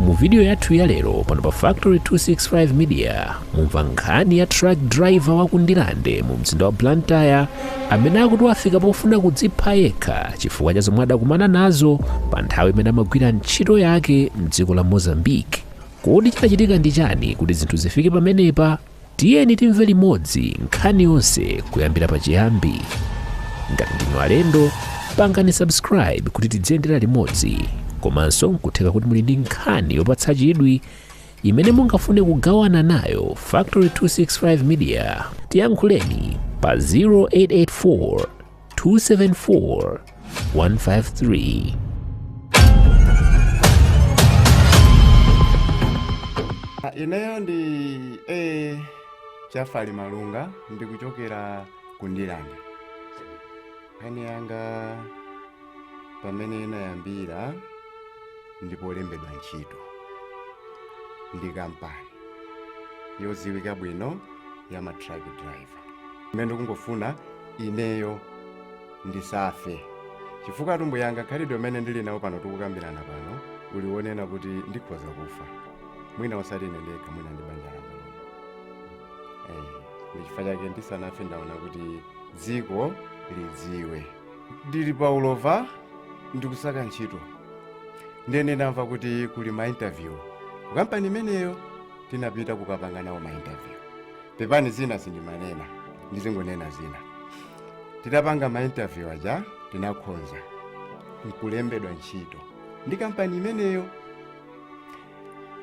mu vidiyo yathu ya lero pano pa factory 265 media mumva nkhani ya truck driver wa ku ndirande mu mzinda wa blantyre amene akuti wafika pofuna kudzipha yekha chifukwa cha zomwe adakumana nazo pa nthawi imene amagwira ntchito yake mdziko la mozambique kodi chinachitika ndi chani kuti zinthu zifike pamenepa Tiyeni timve limodzi nkhani yonse kuyambira pachiyambi. Ngati ndinu alendo, pangani subscribe kuti tidziyendera limodzi. Komanso nkutheka kuti muli ndi nkhani yopatsa chidwi imene mungafune kugawana nayo Factory 265 Media. Tiyankhuleni pa 0884 274 153. Ah, ineyo ndi chafali malunga ndikuchokera ku ndirande nkhani yanga pamene inayambira ndi polembedwa ntchito ndi kampani yodziwika bwino ya ma truck driver imene ndikungofuna ineyo ndisafe chifukwa atumbu yanga khalidwe amene ndili nawo pano tikukambirana pano uli wonena kuti ndikhoza kufa mwina osati ine ndekha mwina ndi banja langa lomwe Eh, ndi chifukwa chake ndisanafe ndaona kuti dziko lidziwe ndili pa ulova ndikusaka ntchito ndene ndamva kuti kuli ma interview ku kampani imeneyo tinapita kukapanga nawo ma interview pepani zina sindimanena ndizingonena zina titapanga ma interview aja tinakhonza nkulembedwa ntchito ndi kampani imeneyo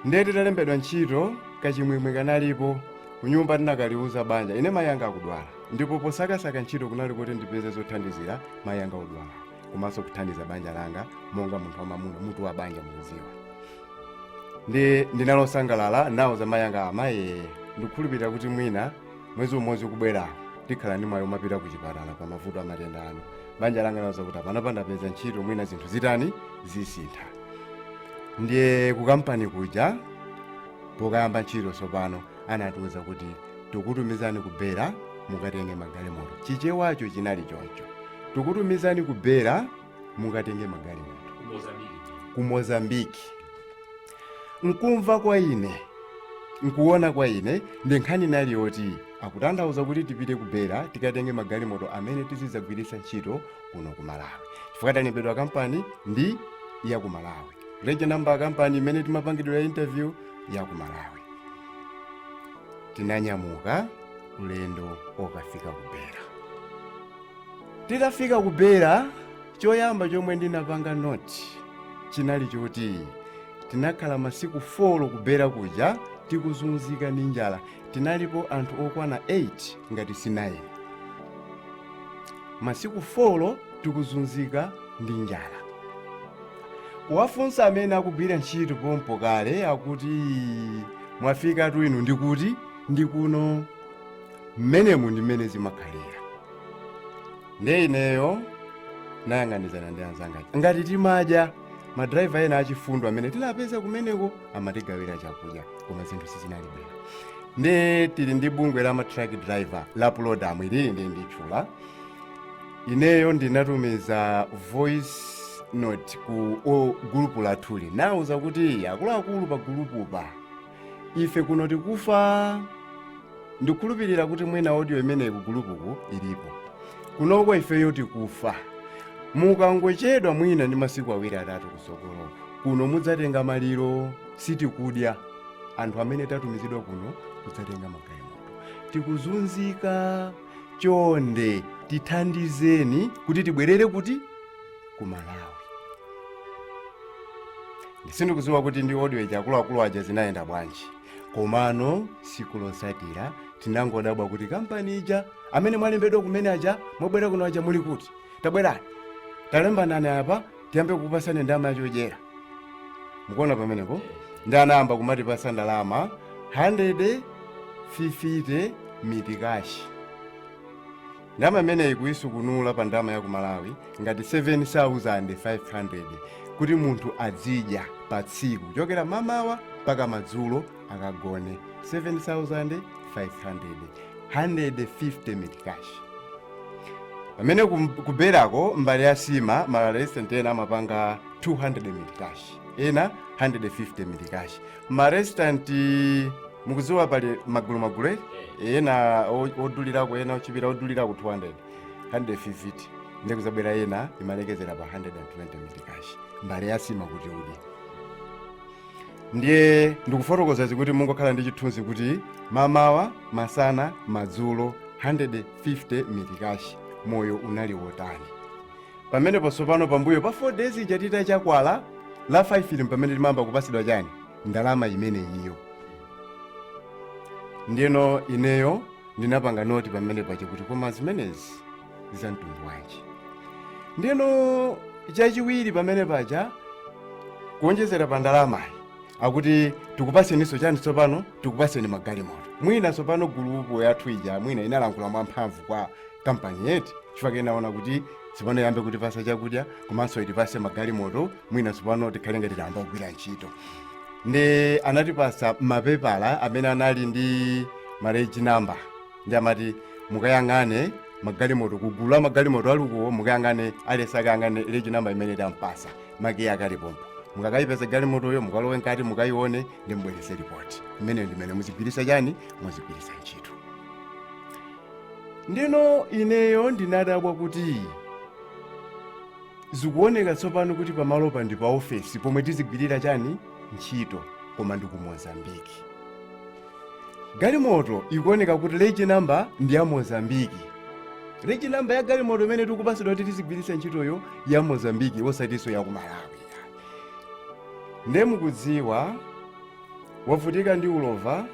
ndiye titalembedwa ntchito kachimwemwe kanalipo kunyumba tinakaliuza banja ine mayi anga akudwala ndipo posakasaka ntchito kunali kuti ndipeze zothandizira mayi anga odwala komanso kuthandiza banja langa monga munthu wamamuna mutu wa banja mukudziwa ndiye ndinali osangalala ndinawauza mayi anga amayi ndikukhulupirira kuti mwina mwezi umodzi ukubwera tikhala ndi mwayi omapita ku chipatala pa mavuto a matenda anu banja langa ndinawauza kuti apana pandapeza ntchito mwina zinthu zitani zisintha ndiye ku kampani kuja pokayamba ntchito tsopano anatiwuza kuti tikutumizani ku bera mukatenge magalimoto chichewacho chinali choncho tikutumizani ku bera mukatenge magalimoto ku mozambiki nkumva kwa ine nkuona kwa ine ndi nkhani inali yoti akutanthauza kuti tipite ku bera tikatenge magalimoto amene tizidzagwiritsa ntchito kuno ku malawi chifukwa talembedwa kampani ndi ya ku malawi reje namba ya kampani imene timapangitsira interview ya ku malawi tinanyamuka ulendo okafika ku bera titafika ku bera choyamba chomwe ndinapanga noti chinali choti tinakhala masiku 4 kubera kuja tikuzunzika ndi njala tinalipo anthu okwana 8 ngati si 9 masiku 4 tikuzunzika ndi njala kuwafunsa amene akugwira ntchito pompo kale akuti mwafikatu inu ndikuti ndikuno mmenemu ndi mmene zimakhalira ndiye ineyo nayang'anizana ndi anzanga aja. ngati timadya madraiva ena achifundo amene tinapeza kumeneko amatigawira chakudya koma zinthu sizinali bwino ndiye tili ndi bungwe la ma truck driver la pulodam ili ndi ndatchula ineyo ndinatumiza voice note ku o- gulupu lathuli nauza kuti akuluakulu pa gulupupa ife kuno tikufa ndikukhulupirira kuti mwina audio imeneyi kugulupuku ilipo kunoko ifeyo tikufa mukangochedwa mwina ndi masiku awiri atatu kusogolo kuno mudzatenga maliro sitikudya anthu amene tatumizidwa kuno kudzatenga magalimoto tikuzunzika chonde tithandizeni kuti tibwerere kuti ku malawi sindikudziwa kuti ndi audio ija akuluakulu aja zinayenda bwanji komano siku losatira tinangodabwa kuti kampani ija amene mwalembedwa kumene aja mwabwera kuno aja muli kuti tabwerani talembanani apa tiyambe kukupasani ndalama yakudyera mukuona pamenepo ndiye anayamba kumatipasa ndalama 150 mitikashi ndama imeneyi kuyisukunula pa ndama ya ku malawi ngati 7500 kuti munthu adzidya pa tsiku kuchokera mamawa mpaka madzulo akagone 7500 150 mitikash pamene kum- kuberako mbale ya sima maresitanti ena amapanga 200 mitikash ena 150 mitikash maresitanti mukuziwa pali magulu magulu eh? ena o- odulirako ena ochipira odulirako 200 150 ndiye kuzabwera ena imalekezera pa 120 mitikashi mbale yasima kuti udye ndiye ndikufotokoza izi kuti mungokhala ndi chithunzi kuti mamawa masana madzulo 150 mitikashi moyo unali wotani pamenepo tsopano pambuyo pa 4 days ija titachita kwa la 5 ili pamene timayamba kupasidwa chani ndalama imeneyiyo ndiyeno ineyo ndinapanga noti pamene paja kuti koma zimenezi za mtundu wanji ndiyeno chachiwiri pamene paja kuonjezera pa ndalamayi akuti tikupaseninso chani tsopano tikupaseni magalimoto mwina tsopano gulupu yathu ija mwina inalankhula mwamphamvu kwa kampani yathu chifukwa inaona kuti tsopano yambe kutipasa chakudya komanso itipase magalimoto mwina tsopano tikhale ngati tayamba kugwira ntchito ndi anatipasa mapepala amene anali ndi maleji namba ndi amati mukayang'ane magalimoto kugulu la magalimoto alukuwo mukayang'ane alesi akayang'ane leji namba imene tampasa makiyi akalipompo mukakayipeza galimotoyo mukalowe nkati mukayione ndi mubwerese ripoti imeneyo ndimene muzigwirisa chani muzigwirisa ntchito Ndeno ineyo ndinadabwa kuti zikuoneka tsopano kuti pamalopa ndi pa ofesi pomwe tizigwirira chani ntchito koma ndi ku mozambiki galimoto ikuoneka kuti leji namba ndi ya mozambiki leji namba ya galimoto imene tikupasidwa kuti tizigwiritsa ntchitoyo ya mozambiki osatinso ya ku malawi nde mukudziwa wavutika ndi ulova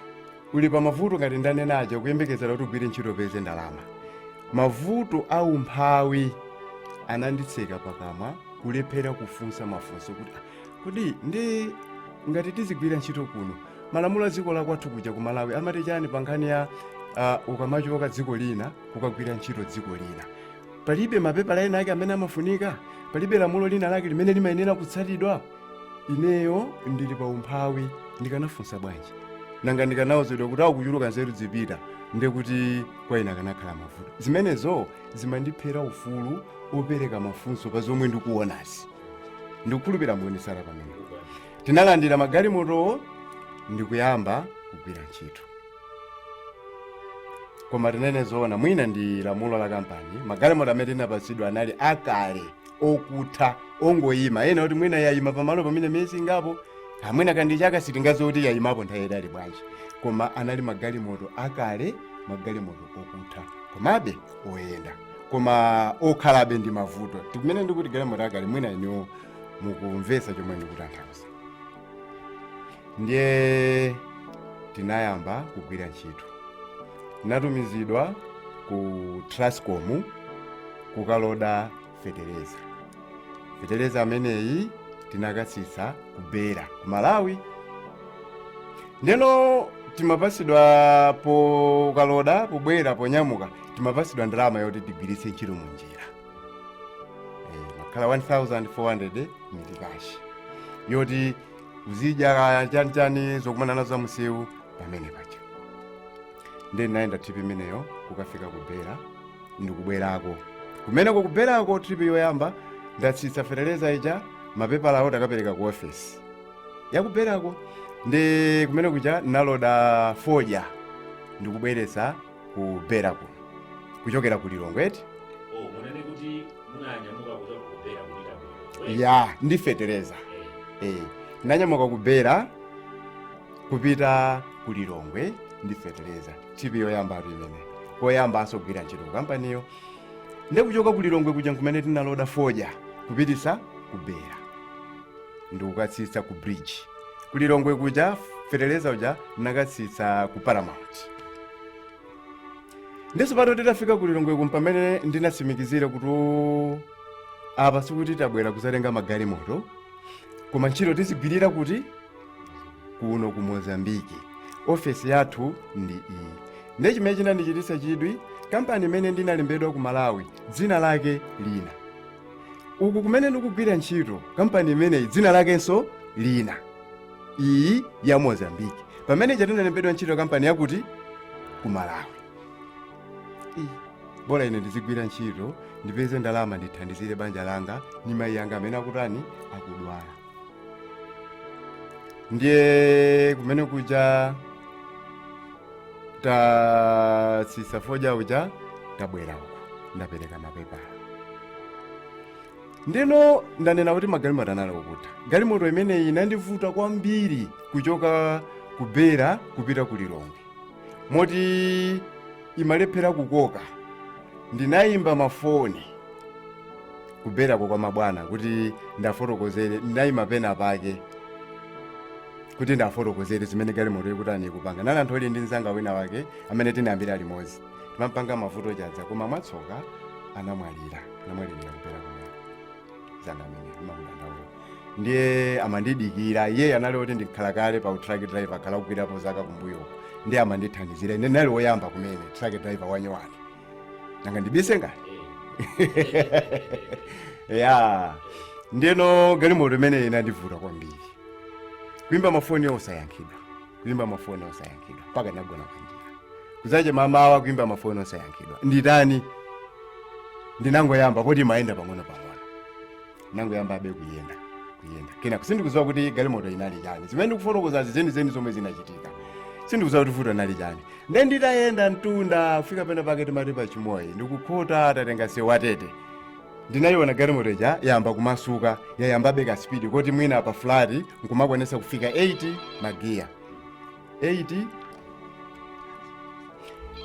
uli pa mavuto ngati ndanena aja ukuyembekezera kuti ugwire ntchito upeze ndalama mavuto a umphawi ananditseka pakamwa kulephera kufunsa mafunso kuti "Ah, kodi ndi ngati tizigwira ntchito kuno malamulo a dziko lakwathu kuja ku malawi amati chani pa nkhani ya uh, ukamachoka dziko lina kukagwira ntchito dziko lina palibe mapepala ena ake amene amafunika palibe lamulo lina lake limene limayenera kutsatidwa ineyo ndili pa umphawi ndikanafunsa bwanji nanga ndikanauzidwa kuti ukuchuluka nzeru zipita nde kuti kwa ine akanakhala mavuto zimenezo zimandiphera ufulu opereka mafunso pa zomwe ndikuonazi ndikukhulupira muonesera pamene tinalandira magalimotowo ndikuyamba kugwira ntchito koma tinene zoona mwina ndi lamulo la kampani magalimoto amene tinapatsidwa anali akale okutha ongoyima ena oti mwina yayima pamalopo mwina miyezi ingapo mwina ndi chaka sitingadziwe kuti yayimapo nthawi yayitali bwanji koma anali magalimoto akale magalimoto okutha komabe oyenda koma okhalabe ndi mavuto ndikumene ndikuti galimoto akale mwina inuyo mukumvetsa chomwe ndikutanthauza ndiye tinayamba kugwira ntchito tinatumizidwa ku trascom kukaloda fetereza fetereza ameneyi tinakatsitsa ku Beira ku malawi ndeno timapasidwa pokaloda pobwera ponyamuka timapasidwa ndalama yoti tigwiritse ntchito munjira Eh, makhala 1400 mitikashi yoti uzidya kaya chani chani zokumana nazo za msewu pamene paja nde ndinayenda trip imeneyo kukafika ku Beira ndikubwerako kumeneko kubwerako trip yoyamba ndatsitsa fetereza ija mapepala awo takapereka ku ofesi ya ku Beira ko ndi kumene kuja naloda fodya ndikubweretsa ku Beira kuno kuchokera ku lilongwe eti oh munanena kuti munanyamuka kuchoka ku Beira kupita ku Lilongwe. ya ndi fetereza Eh, eh, ndanyamuka ku Beira kupita ku lilongwe ndi fetereza trip yoyambatu imeneyo koyambanso kugwira ntchito ku kampaniyo ndikuchoka ku lilongwe kuja nkumene tinaloda foja kupititsa ku Beira ndikukatsitsa ku bridge kulilongwe kuja feteleza uja ndinakatsitsa ku paramount ndiye pamene titafika kulilongwe kuja mpamene ndinatsimikizira kuti "Oh, apa sikuti tabwera kuzatenga magalimoto koma ntchito tizigwirira kuti kuno ku mozambiki ofesi yathu ndi iyi ndiye chimene chinandichititsa chidwi kampani imene ndinalembedwa ku malawi dzina lake lina uku kumene ndikugwira ntchito kampani imeneyi dzina lakenso lina iyi ya mozambiki pamene ija tinalembedwa ntchito kampani yakuti ku malawi Iyi, bola ine ndizigwira ntchito ndipeze ndalama ndithandizire banja langa ndi mayi anga amene akutani akudwala ndiye kumene kuja tatsitsa foja uja tabwera uko ndapereka mapepala ndiye ndanena kuti magalimoto anali okutha galimoto imeneyi inandivuta kwambiri kuchoka ku Beira kupita ku lilongwe moti imalephera kukoka ndinayimba mafoni ku Beirako kwa mabwana kuti ndiwafotokozere ndinayima pena pake kuti ndiwafotokozere zimene galimoto ikutani ikupanga ndinali ndithu ndili ndi mzanga wina wake amene tinayambira limodzi timampanga Mavuto Chadza koma mwatsoka anamwalira anamwalirira ku Beira kumene mzanga amene amakudandaula ndiye amandidikira iye anali oti ndi m'khalakale pa utraki driver akhala kugwirapo zaka kumbuyo ndiye amandithandizira ine ndinali woyamba kumene traki driver wanyowani nanga ndibise nanji ya ndiyeno galimoto imeneyi inandivuta kwambiri kuimba mafoni osayankhidwa kuimba mafoni osayankhidwa mpaka ndagona panjira kudzacha mamawa kuimba mafoni osayankhidwa nditani ndinangoyamba poti imayenda pang'ono pang'ono ndinangoyambabe kuyenda kuyenda kenaka sindikuziwa kuti galimoto inali chani zimene ndikufotokozazi zenizeni zomwe zinachitika sindikuziwa kuti vuto inali chani nde nditayenda mtunda kufika pena pake timati pa Chimoio ndikukhota tatenga msewu wa Tete ndinayiona galimoto ija yayamba kumasuka yayambabe ka speed koti mwina pa fulati nkumakwanisa kufika 8 magiya 8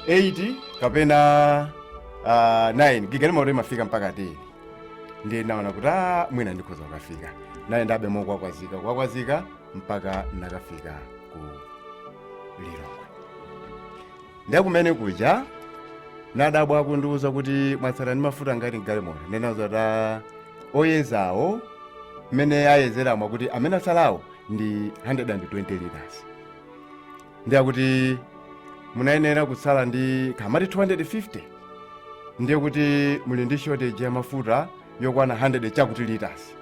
8 kapena uh, 9 gi galimoto imafika mpaka 10 ndiye naona kuti "Ah, mwina ndikhoza kukafika nayendabe mokwakwazika kwakwazika mpaka nakafika ku lilongwe ndiye kumene kuja nadabwa akundiuza kuti mwatsala ndi mafuta ngati mgalimoto ndinawauza kuti oyezawo mmene ayezeramo kuti amene atsalawo ndi 120 liters ndiye akuti munayenera kutsala ndi kamati 250 ndiye kuti muli ndi shortage ya mafuta yokwana 100 chakuti liters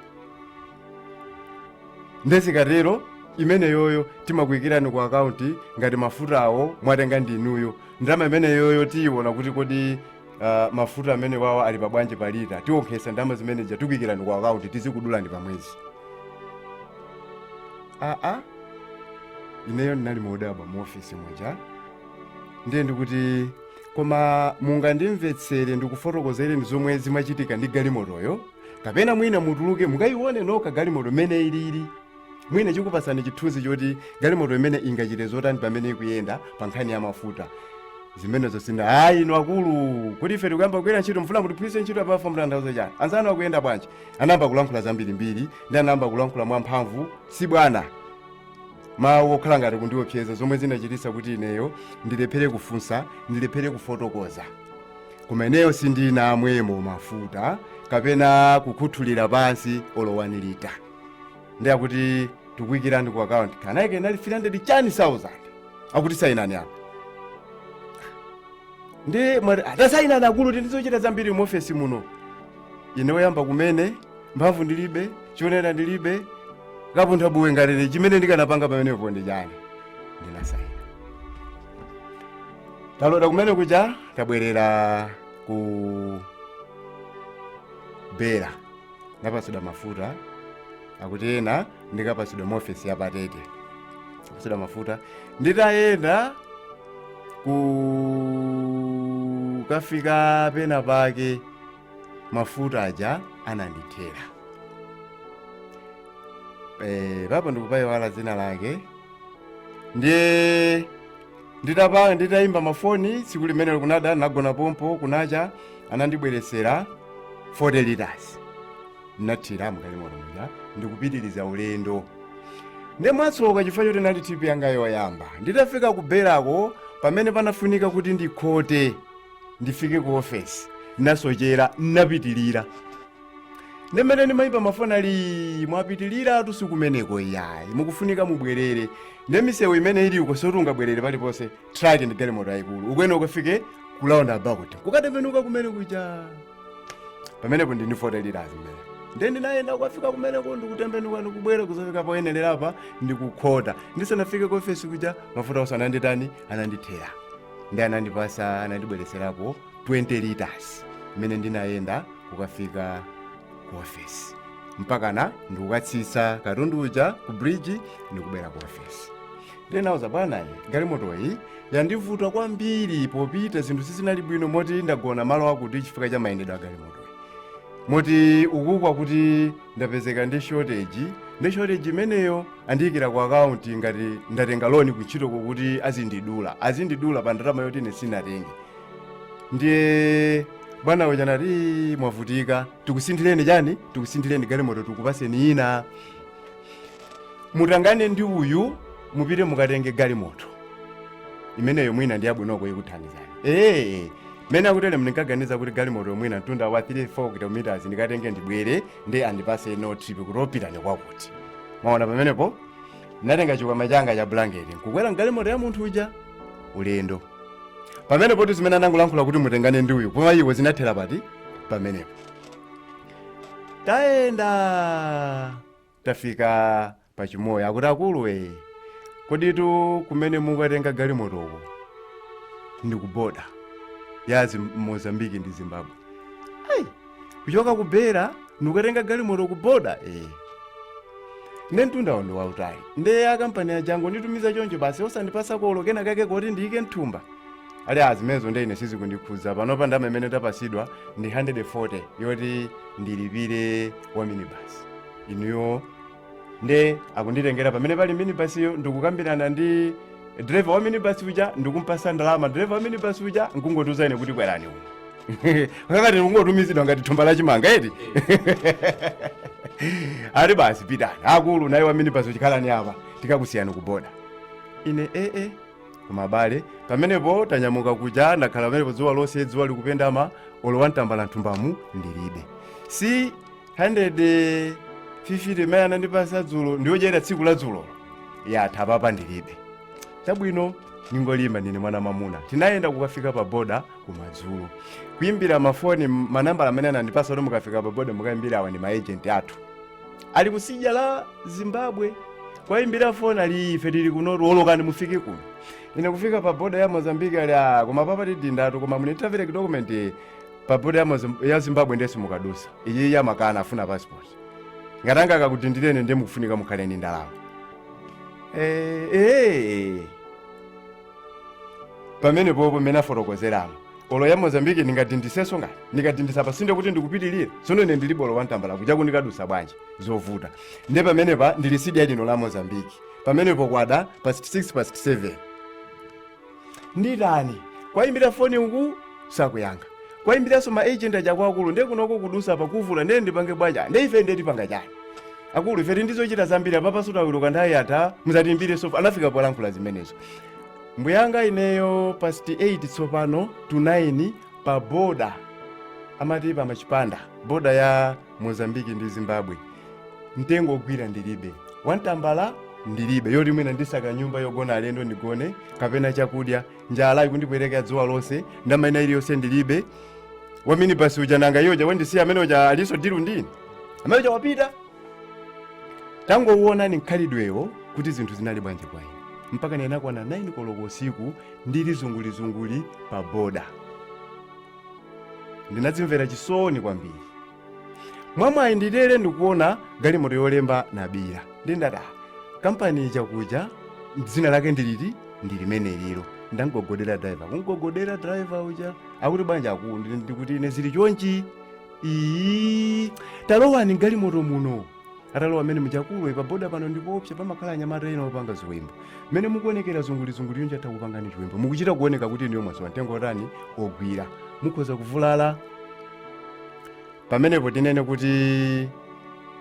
nde zikatero imeneyoyo timakuyikirani ku akaunti ngati mafutawo mwatenga ndinuyo ndalama imeneyoyo tiyiona kuti kodi uh, mafuta amenewawa ali pabwanji pa lita tiwonkhetsa ndalama zimene zija tikuyikirani ku akaunti tizikudulani pa mwezi aa ineyo ndinali modabwa mu ofisi muja ndiye ndi kuti koma mungandimvetsere ndikufotokozereni zomwe zimachitika ndi galimotoyo kapena mwina mutuluke mukayione nokha galimoto mmene ilili mwina ikupatsani chithunzi choti galimoto imene ingachite zotani pamene ikuyenda pa nkhani ya mafuta zimenezo sina ayi inu akulu kodi ife tikuyamba kugwira ntchito mfuna mutiphunzitse ntchito apa mukutanthauza chani anzanu akuyenda bwanji anayamba kulankhula zambirimbiri ndiye anayamba kulankhula mwamphamvu zibwana mawu okhala ngati kundiopseza zomwe zinachititsa kuti ineyo ndilephere kufunsa ndilephere kufotokoza koma ineyo sindinamwemo mafuta kapena kukhuthulira pansi olo one litre ndiye kuti tikuikirani ku akaunti kanayike inali 300 chani 1000 akuti sayinani apa ndiye ati tasayinani akulu ndili ndi zochita zambiri mu ofesi muno ine oyamba kumene mphamvu ndilibe chionera ndilibe kapunthabuye nanga chimene ndikanapanga pamenepo ndi chani ndinasayina taloda kumene kuja tabwerera ku Beira ndapatsidwa mafuta akuti ena ndikapatsidwe mu ofesi ya pa Tete ndapatsidwa mafuta nditayenda kukafika pena pake mafuta aja anandithera Eh, papo ndikupayiwala dzina lake ndiye nditapa nditayimba mafoni tsiku limenelo kunada nagona pompo kunacha anandibweretsera 40 liters nathira mgalimoto muja ndikupitiriza ulendo ndiye mwatsoka chifukwa choti inali trip yanga yoyamba nditafika ku Beirako pamene panafunika kuti ndikhote ndifike ku ofesi nasochera napitirira nde mmene ndimayimba mafoni ali mwapitiliratu sikumeneko iyayi mukufunika mubwerere nde misewu imene ili uko soti ungabwerere paliponse traki ndi galimoto yayikulu ukuyenera ukafike ku roundabout kukatembenuka kumene kuja pamenepo ndi 40 litres imene nde ndinayenda kukafika kumeneko ndikutembenuka ndikubwera kuzafika poyenerera apa ndikukhota ndisanafike ku ofesi kuja mafuta onse ananditani anandithera nde anandipasa anandibweretserapo 20 litres imene ndinayenda kukafika ku ofesi mpakana ndikukatsitsa katundu uja ku bridge ndikubwera ku ofesi ndinauza bwanayi galimotoyi yandivuta kwambiri popita zinthu sizinali bwino moti ndagona malo akuti chifukwa cha mayendedwe a galimotoyi moti ukukwa kuti ndapezeka ndi shortage ndi shortage imeneyo andiyikira ku akaunti ngati ndatenga loni kuntchito kokuti azindidula azindidula pa ndalama yoti ine sinatenge ndiye bwana uja nati "Ii, mwavutika tikusinthireni chani tikusinthireni galimoto tikupaseni ina mutengane ndi uyu mupite mukatenge galimoto imeneyo mwina ndi yabwinoko ikuthandizani ee mene akutele ndinkaganiza kuti galimoto mwina mtunda wa 3 4 kilometers ndikatenge ndibwere nde andipase no trip kuti pitani kwakuti mwaona pamenepo ndinatenga chikwama changa cha bulangeti nkukwera mgalimoto ya munthu uja ulendo pamenepotu zimene anangolankhula kuti mutengane ndi uyu koma iwo zinathera pati pamenepo tayenda tafika pa Chimoio akuti akuluwe koditu kumene mukatenga galimotoko ndi kuboda ya Zim- mozambiki ndi zimbabwe Ai, kuchoka ku Beira ndikukatenga galimoto ku boda eh. nde mtundawo ndi wautali nde a kampani ya jango kunditumiza choncho basi osandipasa olo kena kake koti ndiyike mthumba ali a zimenezo nde ine sizikundikhudza panopa ndama imene ndapasidwa ndi 140 yoti ndilipire wa minibasi inuyo nde akunditengera pamene pali minibasiyo ndikukambirana ndi driver wa minibasi uja ndikumpasa ndalama driver wa minibasi uja nkungondiuza ine kuti kwerani uno ngati ndikungotumizidwa ngati thumba la chimanga eti ali basi pitani akulu naye wa minibasi uja khalani apa tikakusiyani kuboda ine ee koma abale pamenepo tanyamuka kuja ndakhala pamenepo dzuwa lonse dzuwa likupendama olo wani tambala nthumbamu ndilibe si 150 imene anandipasa dzulo ndiyodyera tsiku la dzulo yatha papa ndilibe chabwino ndingolimba ndine mwana mamuna tinayenda kukafika pa boda kumadzulo kuimbira mafoni m- manambala amene anandipasa kuti mukafika pa boda mukaimbira awa ndi maejenti athu ali ku side ya zimbabwe kwaimbira foni ali ife tili kunotu olokani mufike kuno ine kufika pa boda ya mozambike ali "Ah, koma papa tidindatu koma munitavere ki dokumenti pa boda ya zimbabwe ndenso simukadusa iyi amakana afuna passport ngati angakudindireni ndiye mukufunika mukhale ndi ndalama Eh, eh. pamene popo mene afotokozeramo olo ya mozambiki ndingadindiseso ngati ndikadindisa pa zimene kuti ndikupitirira sono ine ndilibe olo wantambala kuja kundikadusa bwanji zovuta nde pamenepa ndili sidya lino la mozambiki pamenepo kwada past 6 past 7 nditani kuwayimbira foni uku sakuyankha kuwayimbiranso ma agent aja kuti akulu nde kunoko kudusa pakuvuta nde ndipange bwanji nde ife nde tipanga chani akulu ife tindizochita zambiri apapa sitawiluka nthawi yatha muzatiimbire so anafika polankhula zimenezo mbuyanga ineyo past 8 tsopano to 9 pa boda amati pa machipanda boda ya mozambiki ndi zimbabwe mtengo ogwira ndilibe wantambala ndilibe yoti mwina ndisaka nyumba yogona alendo ndigone kapena chakudya njala ikundipweteka dzuwa lonse ndalama ina iliyonse ndilibe wamini basi uja nanga yoja wandisiya amene uja aliso dilu ndi ine amene uja wapita tangowuonani mkhalidwewo kuti zinthu zinali bwanji kwa ine mpaka ndinakwana 9 koloko usiku ndili zungulizunguli pa boda ndinadzimvera chisoni kwambiri mwamwayi nditere ndikuona galimoto yolemba Malawi ndindati "Ah, kampani chakuja dzina lake ndiliti ndi limenelilo ndangogodera driver kungogodera driver uja akuti bwanji akulu ndikuti ine zili chonchi iyi talowani galimoto muno atalowa amene uja akulu iyi pa boda pano ndipoopsa pamakhala anyamata ena opanga ziwembu mmene mukuonekera zungulizunguli chonchi atha kukupangani chiwembu mukuchita kuoneka kuti inuyo mwasowa mtengo otani ogwira mukhoza kuvulala pamenepo tinene kuti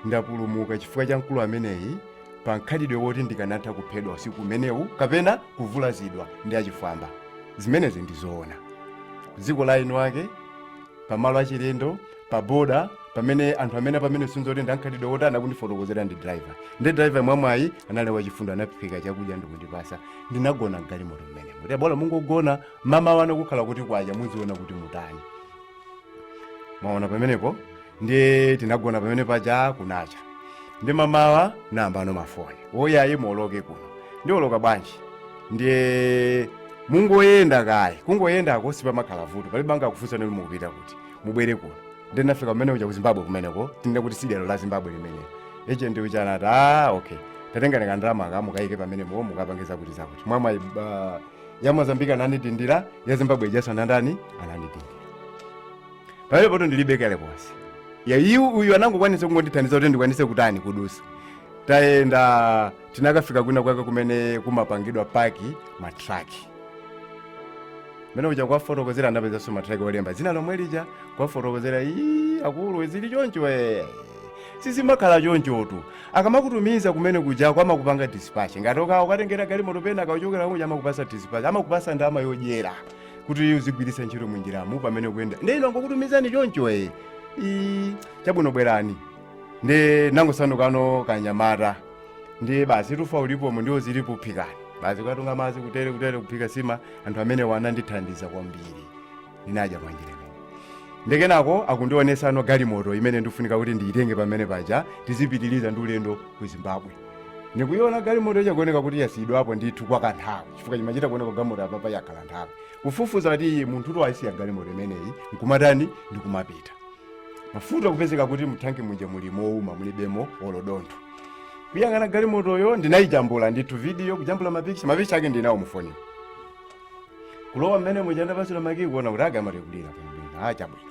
ndapulumuka chifukwa cha mkulu ameneyi pa mkhalidwe woti ndikanatha kuphedwa usiku umenewu kapena kuvulazidwa ndi achifwamba zimenezi ndizoona dziko la eni ake pamalo achilendo pa boda pamene anthu amene pamene sinzoti ndamkhalidwe woti anakundifotokozera ndi driver ndi driver mwamwayi anali wachifundo anaphika chakudya ndikundipasa ndinagona mgalimoto mmenemo kuti bola mungogona mamawa kukhala kuti kwacha muziona kuti mutani mwaona pamenepo ndiye tinagona pamene paja kunacha ndi mamawa nayambano mafoni oh ayi muoloke kuno ndioloka bwanji ndiye mungoyenda kaye kungoyendako sipamakhala vuto palibe angakufunseni kuti mukupita kuti mubwere kuno ndinafika kumene kuja ku zimbabwe kumeneko tinene kuti tsidya la zimbabwe limenelo agent uja anati a okay tatengani kandalamaka mukayike mmenemo mukapangiza kuti zakuti mwamwayi, ya mozambike anandidindira ya zimbabwe ijaso anandani anandidindira pamenepotu ndilibe kalikonse ya iyu uyu anangokwanisa kungondithandiza kuti ndikwanise kutani kudusa tayenda tinakafika kwina kwake kumene kumapangidwa paki matraki mmene muja kuwafotokozera ndapezanso matraki olemba dzina lomwe lija kuwafotokozera ii akulu zili choncho ee sizimakhala chonchotu akamakutumiza kumene kuja amakupanga dispatch ngati uka- ukatengera galimoto pena ukamachokera kuja amakupasa dispatch amakupasa ndalama yodyera kuti uzigwiritsa ntchito munjiramu pamene kuyenda ndiye inu angokutumizani choncho ee ii chabwino bwerani ndinangosandukano kanyamata ndi basi ufa ulipomo ndiwo zilipo phikani basi kukatunga madzi kutere kutere kuphika sima anthu amenewa anandithandiza kwambiri ndinadya mwanjira imeneyo ndiye kenako akundionesano galimoto imene ikufunika kuti ndiyitenge pamene paja tizipitiriza ndi ulendo ku zimbabwe ndikuiona galimoto ija ikuoneka kuti yasiyidwapo ndithu kwa kanthawi chifukwa chimachita kuoneka galimoto apapa yakhala nthawi kufufuza kuti iyi munthu to ayisiya galimoto imeneyi nkumatani ndikumapita mafuta kupezeka kuti muthanki muja muli mouma mulibemo olo dontho kuyang'ana galimotoyo ndinayijambula ndithu video kujambula mapicha mapicha ake ndinawo mufoniwo kulowa mmenemuja ndapasidwa makii kuona kuti aka amatekulira pambeni aa chabwino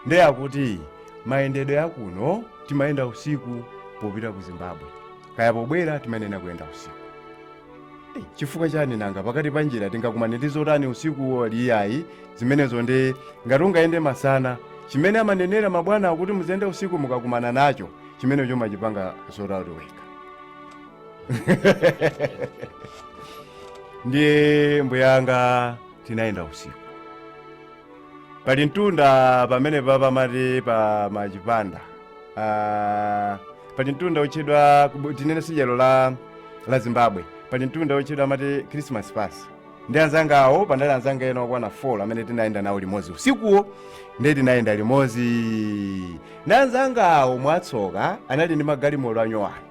ndiye akuti mayendedwe akuno timayenda usiku popita ku zimbabwe kaya pobwera timayenera kuyenda usiku Eh, chifukwa chani nanga pakati pa njira tingakumane ndi zotani usikuwo iyayi zimenezo ndi ngati ungayende masana chimene amanenera mabwana akuti muziyenda usiku mukakumana nacho chimenecho mumachipanga sort out wekha ndiye mbuyanga tinayenda usiku pali mtunda pamene paja amati pa machipanda Ah, pali mtunda otchedwa kubu- tinene side la la zimbabwe pali mtunda otchedwa amati christmas pass ndiye anzangawo panali anzanga ena okwana 4 amene tinayenda nawo limodzi usikuwo ndiye tinayenda limodzi ndi anzangawo mwatsoka anali ndi magalimoto anyowani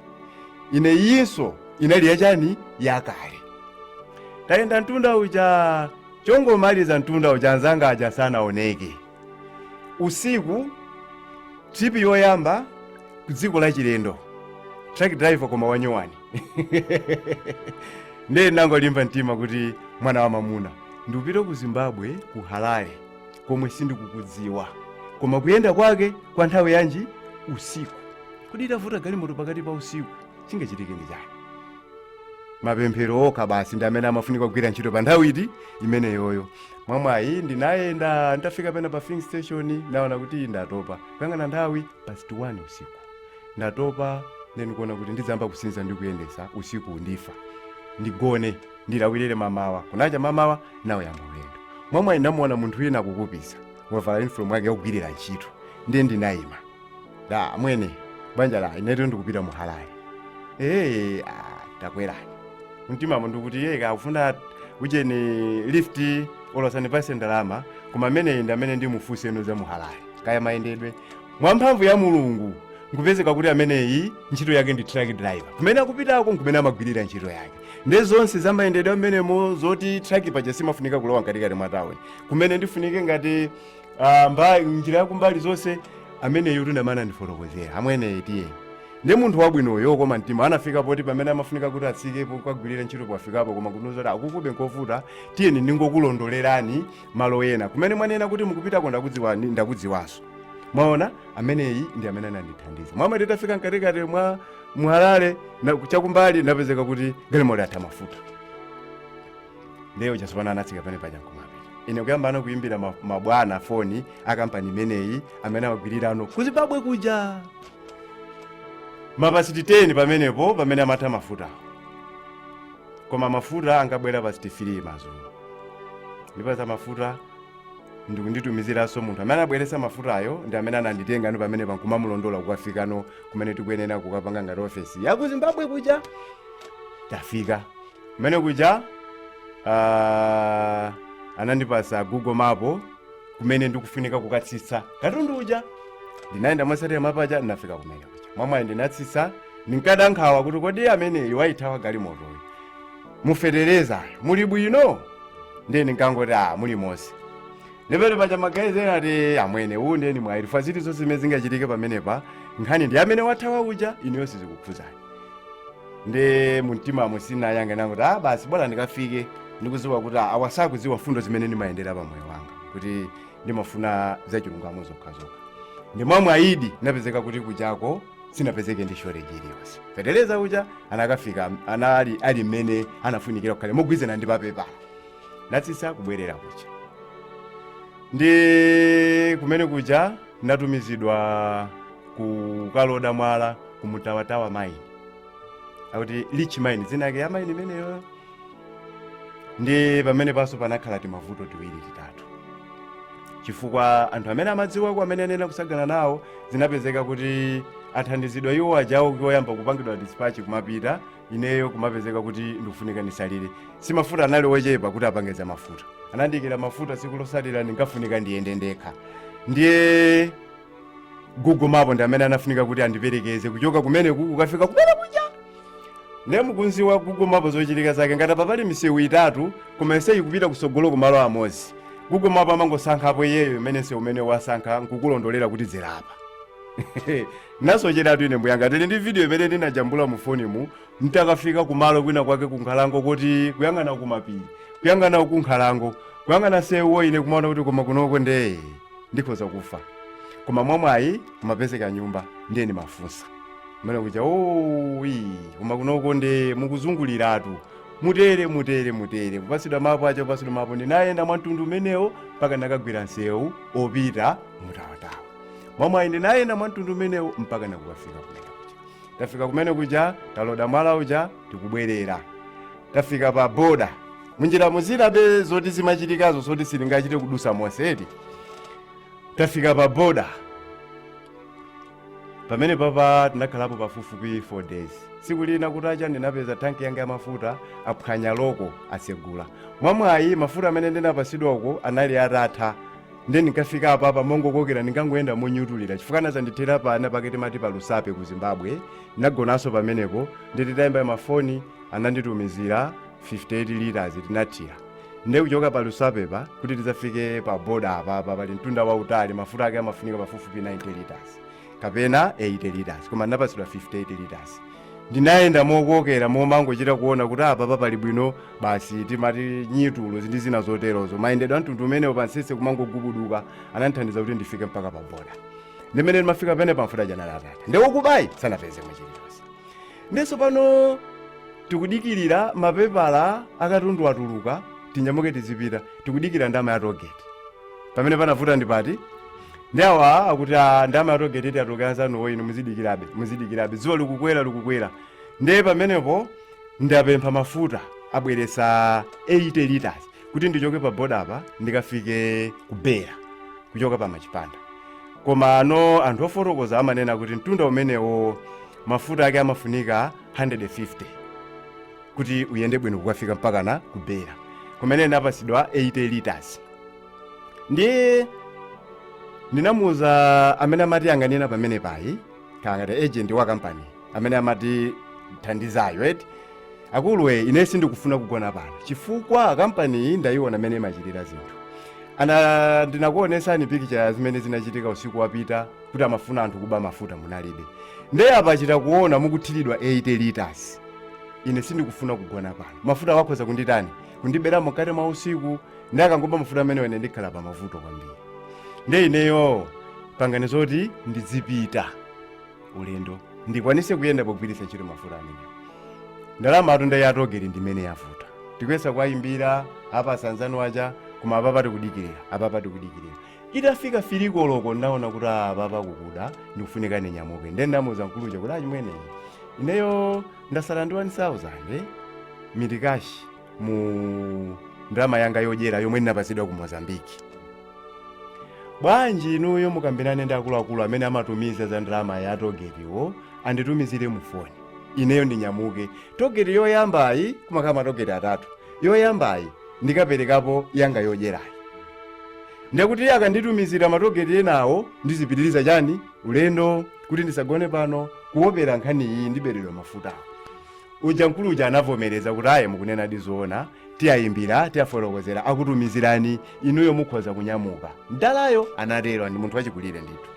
ine iyinso inali yachani yakale tayenda mtunda uja Chongomaliza mtunda uja anzanga aja sanaoneke. Usiku, trip yoyamba kudziko la chilendo. Truck driver koma wanyowani. Ndiye ndinangolimba mtima kuti mwana wamamuna ndikupita ku Zimbabwe ku Harare komwe sindikukudziwa. Koma kuyenda kwake kwa nthawi yanji usiku. Kodi itavuta galimoto pakati pa usiku chingachitike ndi chani? mapemphero okha basi ndi amene amafunika kugwira ntchito pa nthawi iti imeneyoyo mwamwayi ndinayenda nditafika pena pa filling station naona kuti ndatopa kuyang'ana nthawi past 1 usiku ndatopa nde kuona kuti ndidzayamba kusinza ndi kuyendesa usiku ndifa ndigone ndilawirire mamawa kunacha mamawa nawuyamba ulendo mwamwayi namuona munthu wina akukupiza wavala uniform yake yakogwirira ntchito ndiye ndinayima amwene banja la inetu ndikupita mu Harare ee ah, takwerani, mtimamo ndikuti iye kakufuna ucheni lift olosani pase ndalama koma ameneyi ndi amene ndimufunseno za mu Harare kaya mayendedwe mwa mphamvu ya mulungu nkupezeka kuti ameneyi ntchito yake ndi truck driver kumene akupitako nkumene amagwirira ntchito yake nde zonse za mayendedwe amenemo zoti truck paja simafunika kulowa mkatikati mwa tauni kumene ndifunike ngati Ah, mba njira yakumbali zonse ameneyo ndi amene anandifotokozera amwene tiye ndi munthu wabwinoyo koma mtima anafika poti pamene amafunika kuti atsikepo kukagwirira ntchito pafikapo koma kunuza kuti akukube nkovuta tiyeni ndingokulondolerani malo ena kumene mwanena kuti mukupitako ndakudziwani ndakudziwanso mwaona ameneyi ndi amene anandithandiza amwene titafika mkatikati mwa Harare na- chakumbali napezeka kuti galimoti atha mafuta ndiye tsopano anatsika pamene paja nkumapita ine kuyambano kuyimbira ma- mabwana foni a kampani imeneyi amene amagwirirano ku zimbabwe kuja mapasiti 10 pamenepo pamene amatha mafuta koma mafuta anakabwera pasiti 3 mazulo ndipasa mafuta ndikunditumiziranso munthu amene anabweresa mafutayo ndi amene ananditengano pamene pankumamulondola kukafikano kumene tikuyenera kukapanga ngati ofesi yaku zimbabwe kuja tafika kumene kuja ah, anandipasa google map kumene ndikufunika kukatsitsa katundu uja ndinayenda motsatira mapaja ndinafika kumene kuja mwamwayi ndinatsitsa ndinkada nkhawa kuti kodi amene wayithawa galimotoyo mu fetereza muli bwino ndiye ndinkangoti a muli monse ndipete paja magazi ena ati amwene uwu ndiye muli faziti zonse zimene zingachitike pamenepa nkhani ndi amene wathawa uja ineyo sizikukhuzani nde mumtimamo ndinangoyankha kuti ah basi bora ndikafike ndikuziwa kuti ah, awa sakuziwa mfundo zimene ndimayendera pa moyo wanga kuti ndimafuna zachilungamo zokhazokha nde mwamwayidi napezeka kuti kujako sinapezeke ndi shortage iliyonse feteleza uja anakafika anali ali mmene anafunikira kukhale mogwizana ndi pepala natsisa kubwerera kuja ndi kumene kuja natumizidwa kukaloda mwala ku mutawatawa mine akuti Rich mine dzina yake ya mine imeneyo ndi pamene panso panakhala timavuto tiwiri titatu chifukwa anthu amene amadziwako amene ndinakasakana nawo zinapezeka kuti athandizidwa iwo ajawo oyamba kupangidwa dispatch kumapita ineyo kumapezeka kuti ndikufunika ndisalire si mafuta anali ochepa kuti apange za mafuta anandiyikira mafuta siku losalira ndinkafunika ndiyende ndekha ndiye Google Map ndi amene anafunika kuti andiperekeze kuchoka kumene kukafika kumene kuja ndiye mukudziwa Google Map zochitika zake ngati papali misewu itatu koma yonse ikupita kusogolo kumalo amodzi Google Map amangosankhapo iyeyo mmene nsewu umene wasankha nkukulondolera kuti dzera apa nasocheratu ine mbuyanga tili ndi video imene ndinajambula mu foni mu ntafika kumalo kwina kwake kunkhalango kuti kuyang'ana kumapiri kuyang'ana kunkhalango kuyang'ana nsewuwo ine kumaona kuti koma kunoko nde ndikhoza kufa koma mwamwayi kumapezeka nyumba ndiye ndimafunsa kumene kuja owi koma kunoko nde mukuzunguliratu mutere mutere mutere kupatsidwa mapu aja kupatsidwa mapu ndinayenda mwa mtundu umenewo mpaka ndakagwira msewu opita mutawatawa mwamwayi ndinayenda mwa mtundu umenewo mpaka kukafika kumene kuja tafika kumene kuja taloda mwala uja tikubwerera tafika pa boda munjira mudziwabe zoti zimachitikazo zoti silingachite kudutsa monse eti tafika pa boda pamene paja tinakhalapo pafupifupi 4 days tsiku lina kutacha ndinapeza tanki yanga ya mafuta aphwanya loko asegula mwamwayi mafuta amene ndinapatsidwa uko anali atatha nde ndikafika apapa mongokokera ndinkangoyenda monyutulira chifukwa anazandithera penapake timati pa lusape ku zimbabwe ndinagonanso pamenepo ndiye titayimba mafoni ananditumizira 58 liters tinathira nde kuchoka pa lusapepa kuti tidzafike pa boda apapa pali mtunda wautali mafuta ake amafunika pafupifupi 90 liters kapena 80 liters koma ndinapatsidwa 58 liters ndinayenda mokokera kumangochita kuona kuti apapa pali bwino basi timati nyitulo ndi zina zoterozo mayendedwe amtundu umenewo pamtsetse kumangogubuduka anandithandiza kuti ndifike mpaka pa boda nde mmene ndimafika pamenepa mafuta aja anali atatha nde okuba sanapeze chiri Ndiye tsopano tikudikirira mapepala akatundu atuluka tinyamuke tizipita tikudikira ndama ya togeti pamene panavuta ndi pati ndi awa akuti "Ah, ndama ya togeti yatuluka anzanuwo inu muzidikirabe muzidikirabe dzuwa likukwera likukwera ndiye pamenepo ndapempha mafuta abweretsa 80 liters kuti ndichoke pa boda apa ndikafike ku Beira kuchoka pa machipanda koma ano anthu ofotokoza amanena kuti mtunda umenewo mafuta ake amafunika 150 kuti uyende bwino kukafika mpakana ku Beira kumene ndinapatsidwa 80 liters ndiye ndinamuuza amene amatiyang'anira pamenepa ngati agent wa kampani amene amatithandizayo eti akuluwe ine sindikufuna kugona pano chifukwa kampani iyi ndayiona mmene imachitira zinthu ndinakuonetsani pikicha zimene zinachitika usiku wapita kuti amafuna anthu kuba mafuta munalibe nde apa achita kuona mukuthiridwa 80 liters ine sindikufuna kugona pano mafuta wakhoza kunditani kundibera mkati mwa usiku ndi akangoba mafuta amenewo ine ndikhala pa mavuto kwambiri nde ineyo pangani zoti ndizipita ulendo ndikwanise kuyenda pogwiritsa ntchito mafuta amenewo ndalamatu nde ya togeti ndimene yavuta tikuyesa kuwayimbira apa anzanu aja koma apapa tikudikirira apapa tikudikirira itafika fili koloko ndaona kuti apapa kukuda ndikufunika ndinyamuke nde ndamuza mkulu uja kuti achimwene ineyo ndasala ndi 1000 mitikashi mu ndalama yanga yodyera yomwe ndinapatsidwa ku mozambiki bwanji inuyo mukambirane ndi akuluakulu amene amatumiza za ndalama ya togetiwo anditumizire mu foni ineyo ndinyamuke togeti yoyambayi kumakhala matogeti atatu yoyambayi ndikaperekapo yanga yodyerayi ndekuti iye akanditumizira matogeti enawo ndizipitiriza chani ulendo kuti ndisagone pano kuopera nkhani iyi ndiberedwa mafuta uja mkulu uja anavomereza kuti ayi mukunena ndi zoona tiwayimbira tiwafotokozera akutumizirani inuyo mukhoza kunyamuka mdalayo anatero ndi munthu wachikulire ndithu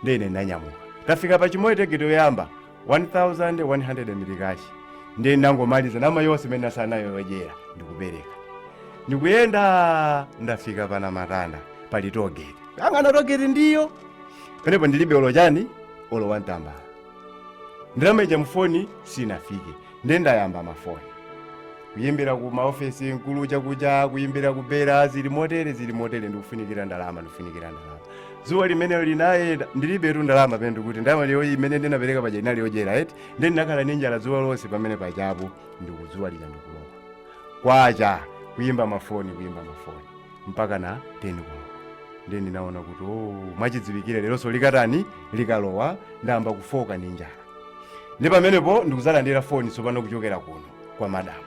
ndiye ine ndanyamuka tafika pa chimoyo togeti yoyamba 1100 mitikashi ndiye ndangomaliza ndalama yonse imene ndinasala nayo yodyera ndikupereka ndikuyenda ndafika pa namatanda pali togeti angana togeti ndiyo pamenepo ndilibe olo chani olo wantambala ndalama ija mufoni sinafike nde ndayamba mafoni kuyimbira ku maofesi mkulu chakucha kuyimbira ku bera zili motere zili motere ndikufunikira ndalama ndikufunikira ndalama dzuwa limenelo linayenda ndilibetu ndalama paja ndikuti ndalama iyo imene ndinapereka paja inali yodyera eti nde ndinakhala ndi njala dzuwa lonse pamene pajapo ndiye dzuwa lija ndikulowa kwacha kuyimba mafoni kuyimba mafoni mpaka na 10 koloko nde ndinaona kuti oh, mwachidziwikire leronso likatani likalowa ndayamba kufoka ndi njala ndi pamenepo ndikuzalandira foni tsopano kuchokera kuno kwa madamu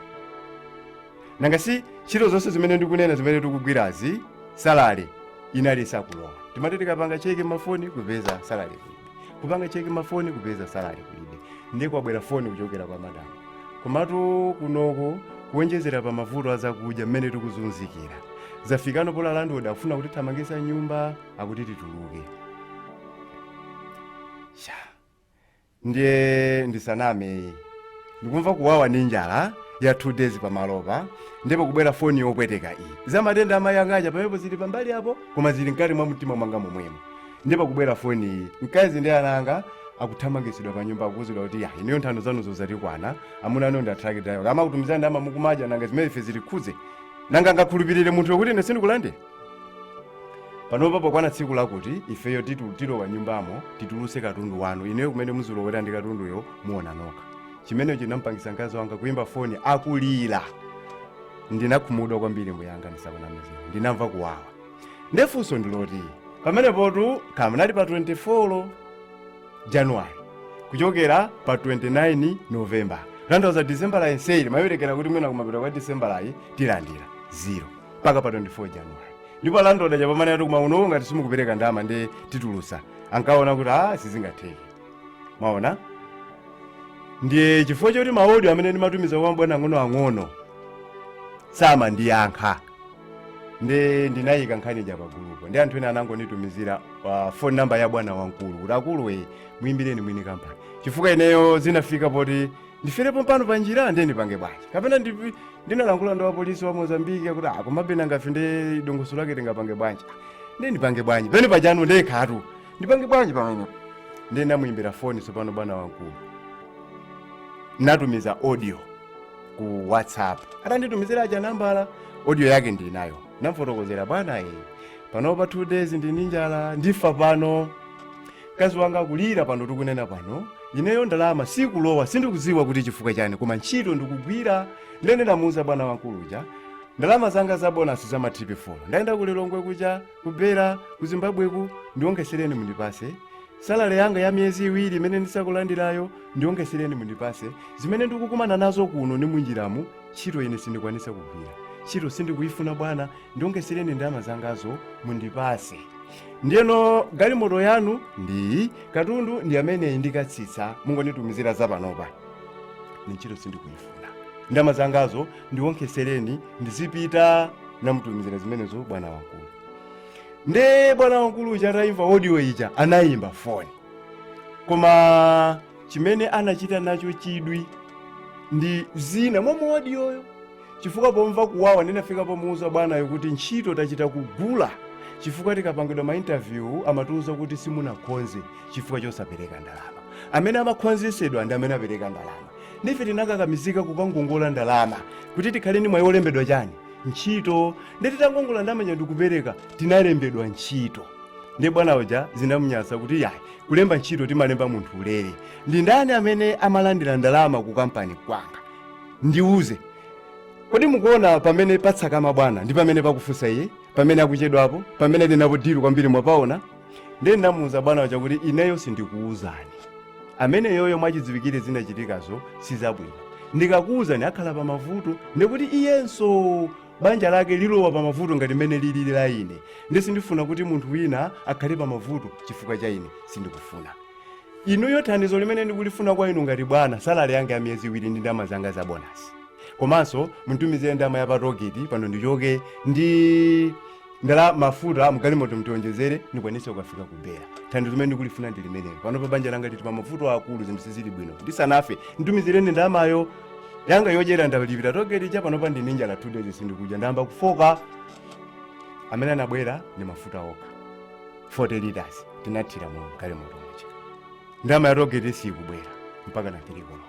nanga si ntchito zonse zimene ndikunena zimene tikugwirazi salale inali sakulowa timati tikapanga cheke mafoni kupeza salale kulibe kupanga cheke mafoni kupeza salale kulibe ndiye kwabwera foni kuchokera kwa madamu komatu kunoko kuonjezera pa mavuto azakudya mmene tikuzunzikira zafika ndi pena landlord akufuna kutithamangitsa m'nyumba akuti tituluke ndiye ndisanameyi ndikumva kuwawa ndi njala ya 2 days pamalopa ndiye pakubwera foni yopweteka iyi za matenda amayi anga aja pamenepo zili pambali apo koma zili mkati mwa mtima mwanga momwemo ndiye pakubwera foni iyi mkazi ndi ana anga akuthamangitsidwa pa nyumba akuuzidwa kuti ya ineyo nthano zanuzo zandikwana amuna anu ndi a truck driver akamakutumizirani ndalama mukumadya nanga zimene ife zitikhudze nanga angakhulupirire munthu kuti ine sindikulande panopa pokwana tsiku lakuti ifeyo titu- tilowa nyumbamo titulutse katundu wanu ndiye kumene muzilowera ndi katunduyo muona nokha chimene chinampangisa mkazi wanga kuyimba foni akulira ndinakhumudwa kwambiri mbuyanga ndisakunamizireni ndinamva kuwawa ndefunso ndiloti pamenepotu kamunali pa 24 januwari kuchokera pa 29 novemba ndatha disembala yonseyi ndimayerekeza kuti mwina kumapita kwa disembalayi tilandira zero mpaka pa 24 january ndipo landlord aja pamene ati kumauno ngati simukupereka ndalama ndi titulusa ankaona kuti a sizingatheke mwaona ndiye chifukwa choti maodio amene ndimatumiza kwa mabwana ang'onoang'ono samandiyankha ndi ndinayika nkhani ija pagulupo ndi anthu ena anangonitumizira uh, phone number ya bwana wamkulu kuti akulu muyimbireni mwini kampani chifukwa ineyo zinafika poti ndifere pompano pa njira ndiye ndipange bwanji kapena ndipi- ndinalankhula ndi wapolisi wa mozambiki akuti ah komabe nangafe ndi dongosolo lake tingapange bwanji Ah, ndiye ndipange bwanji pena pajanu ndekhatu ndipange bwanji pamene ndiye ndamuyimbira foni tsopano bwana wamkulu natumiza audio ku whatsapp atanditumizira aja nambala audio yake ndinayo namfotokozera bwana e panopa two days ndili ndi njala ndifa pano mkazi wanga akulira pano tikunena pano ineyo ndalama sikulowa sindikudziwa kuti chifukwa chani koma ntchito ndikugwira ndiye ndamuuza bwana wankulu uja ndalama zanga za bonasi za matripi 4 ndayenda ku lilongwe kuja ku beira ku zimbabweku ndiwonkhetsereni mundipase salale yanga ya miyezi iwiri imene ndisakulandirayo ndiwonkhetsereni mundipase zimene ndikukumana nazo kuno ndi munjiramu ntchito ine sindikwanisa kugwira ntchito sindikuyifuna bwana ndiwonkhetsereni ndalama zangazo mundipase ndiyeno galimoto yanu ndiyi katundu ndi ameneyi ndikatsitsa mungonditumizira za panopa ine ntchito sindikuyifuna ndalama zangazo ndiwonkhetsereni ndizipita namutumizira zimenezo bwana wankulu nde bwana wankulu uja atayimva audio ija anayimba foni koma chimene anachita nacho chidwi ndi zina mwa mu odioyo chifukwa pomva kuwawa ndinafika pomuuza bwanayo kuti ntchito tachita kugula chifukwa tikapangidwa ma interview amatiuza kuti simunakhonze chifukwa chosapereka ndalama amene amakhonzesedwa ndi amene apereka ndalama nde ife tinakakamizika kukangongola ndalama kuti tikhale ndi mwayi wolembedwa chani ntchito nde titangongola ndalama zija ndikupereka tinalembedwa ntchito nde bwana uja zinamunyasa kuti yayi kulemba ntchito timalemba munthu ulere ndi ndani amene amalandira ndalama ku kampani kwanga ndiuze kodi mukuona pamene patsakama bwana ndi pamene pakufunsa iye pamene akuchedwapo pamene ndinapo dilu kwambiri mwapaona ndiye ndinamuuza bwana uja kuti ineyo sindikuuzani ameneyoyo mwachidziwikire zinachitikazo sizabwino ndikakuuzani akhala pa mavuto ndikuti iyenso banja lake lilowa pa mavuto ngati mmene lilili la ine ndi sindifuna kuti munthu wina akhale pa mavuto chifukwa cha ine sindikufuna inuyo thandizo limene ndikulifuna kwa inu ngati bwana salale yanga ya miyezi iwiri ndi ndalama zanga za bonasi komanso munditumizire ndalama ya patogeti pano ndichoke ndi ndala mafuta mgalimoto mtionjezere ndikwanise kukafika ku bera thandizo limene ndikulifuna ndi limenelo panopa banja langa lili pa mavuto akulu zinthu sizili bwino ndisanafe nditumizireni ndalamayo yanga yodyera ndalipira togeti ija panopa ndine njala two days sindikudya ndayamba kufoka amene anabwera ndi mafuta okha 40 liters tinathira mu galimoto muja ndama yatogeti sikubwera mpaka ma 3 koloko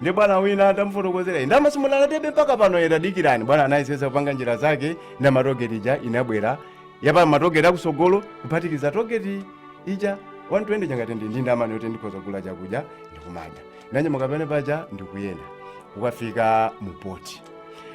ndi bwana uja nditamufotokozera "Ine ndama simunandipatsebe mpaka pano ati dikirani bwana anayesesa kupanga njira zake ndama ya togeti ija inabwera yapa matogeti akusogolo kuphatikiza togeti ija 120 changati ndine ndi ndama yoti ndikhoza kugula chakudya ndikumadya nanyamuka panepo paja ndikuyenda kukafika mu poti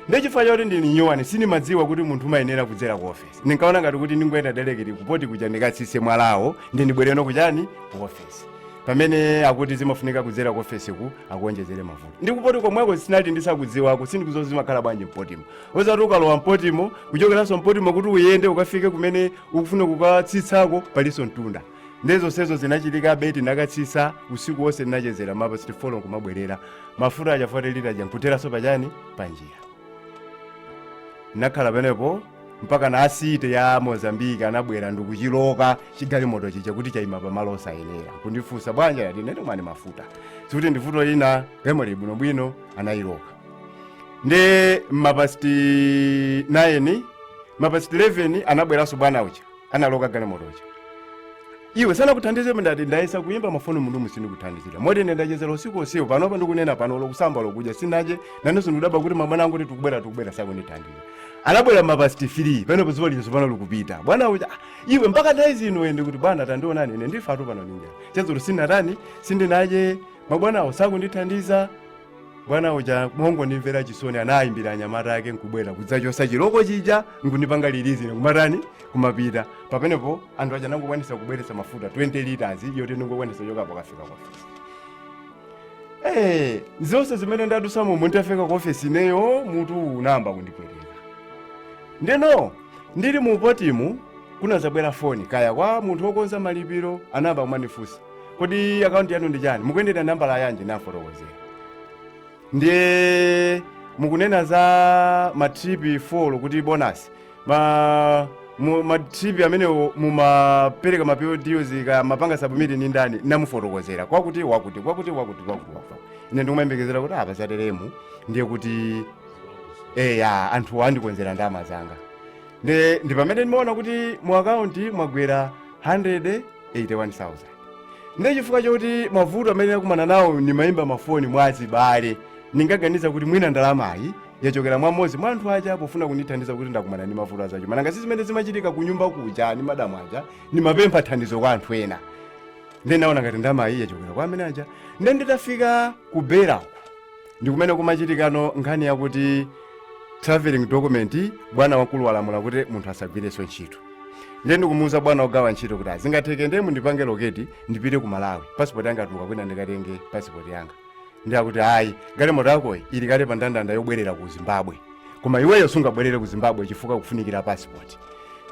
nde chifukwa choti ndili nyuwani sindimadziwa kuti munthu umayenera kudzera ku ofesi ndinkaona ngati kuti ndingoyenda delekiti kupoti kuja ndikatsitse mwalawo ndi ndibwereno kuchani ku ofesi pamene akuti zimafunika kudzera ku ofesi ku akuonjezere mafuta ndi kupoti komweko ndinali ndisakudziwako sindikudziwa zimakhala bwanji mpotimo osadziwa kuti ukalowa mpotimo kuchokeranso mpotimo kuti uyende ukafike kumene ukufuna kukatsitsako palinso mtunda ndiye zonsezo zinachitikabe ndinakatsitsa usiku wonse ndinachezera mapasiti folo nkumabwerera mafuta aja fote lita aja nkutheranso pachani panjira ndinakhala panepo mpaka ana asite ya mozambike anabwera ndikuchiloka chigalimoto chija kuti chayima pamalo osayenera kundifunsa bwanji ndati ndinalibe mafuta sikuti ndivuto nawapempha bwinobwino anayiloka ndi mapasiti 9 mapasiti 11 anabweranso bwana uja analoka galimoto ija iwe sanakuthandize ndati ndayesa kuyimba mafoni munthu osandithandiza moti ine ndachezera usiku usiku panopa ndikunena pano lokusamba lokudya sinadye nanenso ndikudabwa kuti mabwana angoti tikubwera tikubwera sakundithandiza anabwera mapasti 3 pano padzuwa lino tsopano likupita bwana uja "Ah, iwe mpaka nthawi ino ende kuti bwana tandiwonani ine ndifatu pano ndi njala chadzulo sinatani sindinadye mabwanawo sakundithandiza bwana uja mongondimvera chisoni anayimbira anyamata ake nkubwera kudzachotsa chiloko chija nkundipanga lilizi ine kumatani kumapita pamenepo anthu aja anangokwanisa kubweretsa mafuta 20 liters yoti ndingokwanisa kuchokapo kukafika kwa ofesi Eh, zonse zimene ndadutsamo nditafika ku ofesi ineyo mutu unayamba kundipweteka ndeno ndili mu potimu kunadzabwera foni kaya kwa munthu wokonza malipiro anayamba kumandifunsa kodi akaunti yanu ndi chani mukuyendera nambala yanji nafotokozera ndiye mukunena za matripi 4 kuti bonasi ma mu- matripi amenewo mumapereka ma PODs ka mapanga submit ni ndani namufotokozera kwakuti wakuti kwakuti wakuti kwakuti wakuti ine ndikumayembekezera kuti apa zateremu ndiye kuti eya anthu andikonzera ndalama zanga ndi ndi pamene ndimaona kuti mu akaunti mwagwera 100 81,000 ndiye chifukwa chokuti mavuto amene ndakumana nawo ndimayimba mafoni mwa azibale ndinkaganiza kuti mwina ndalamayi yachokera mwa mmodzi mwa anthu aja pofuna kundithandiza kuti ndakumana ndi mavuto azachuma nanga si zimene zimachitika ku nyumba kuja ndi madamu aja ndimapempha thandizo kwa anthu ena ndiye naona ngati ndalamayi yachokera kwa amene aja ndiye nditafika ku beirako ndi kumene kumachitikano nkhani yakuti traveling document bwana wakulu walamula kuti munthu asagwirenso ntchito ndiye ndikumuuza bwana ogawa ntchito kuti sizingatheke ndiye mundipange allocate ndipite ku malawi pasipoti yanga yatuluka kwina ndikatenge pasipoti yanga ndiye akuti ayi galimoto yakoyi ili kale pa ndandanda yobwerera ku zimbabwe koma iweyo sungabwerere ku zimbabwe chifukwa kufunikira pasipoti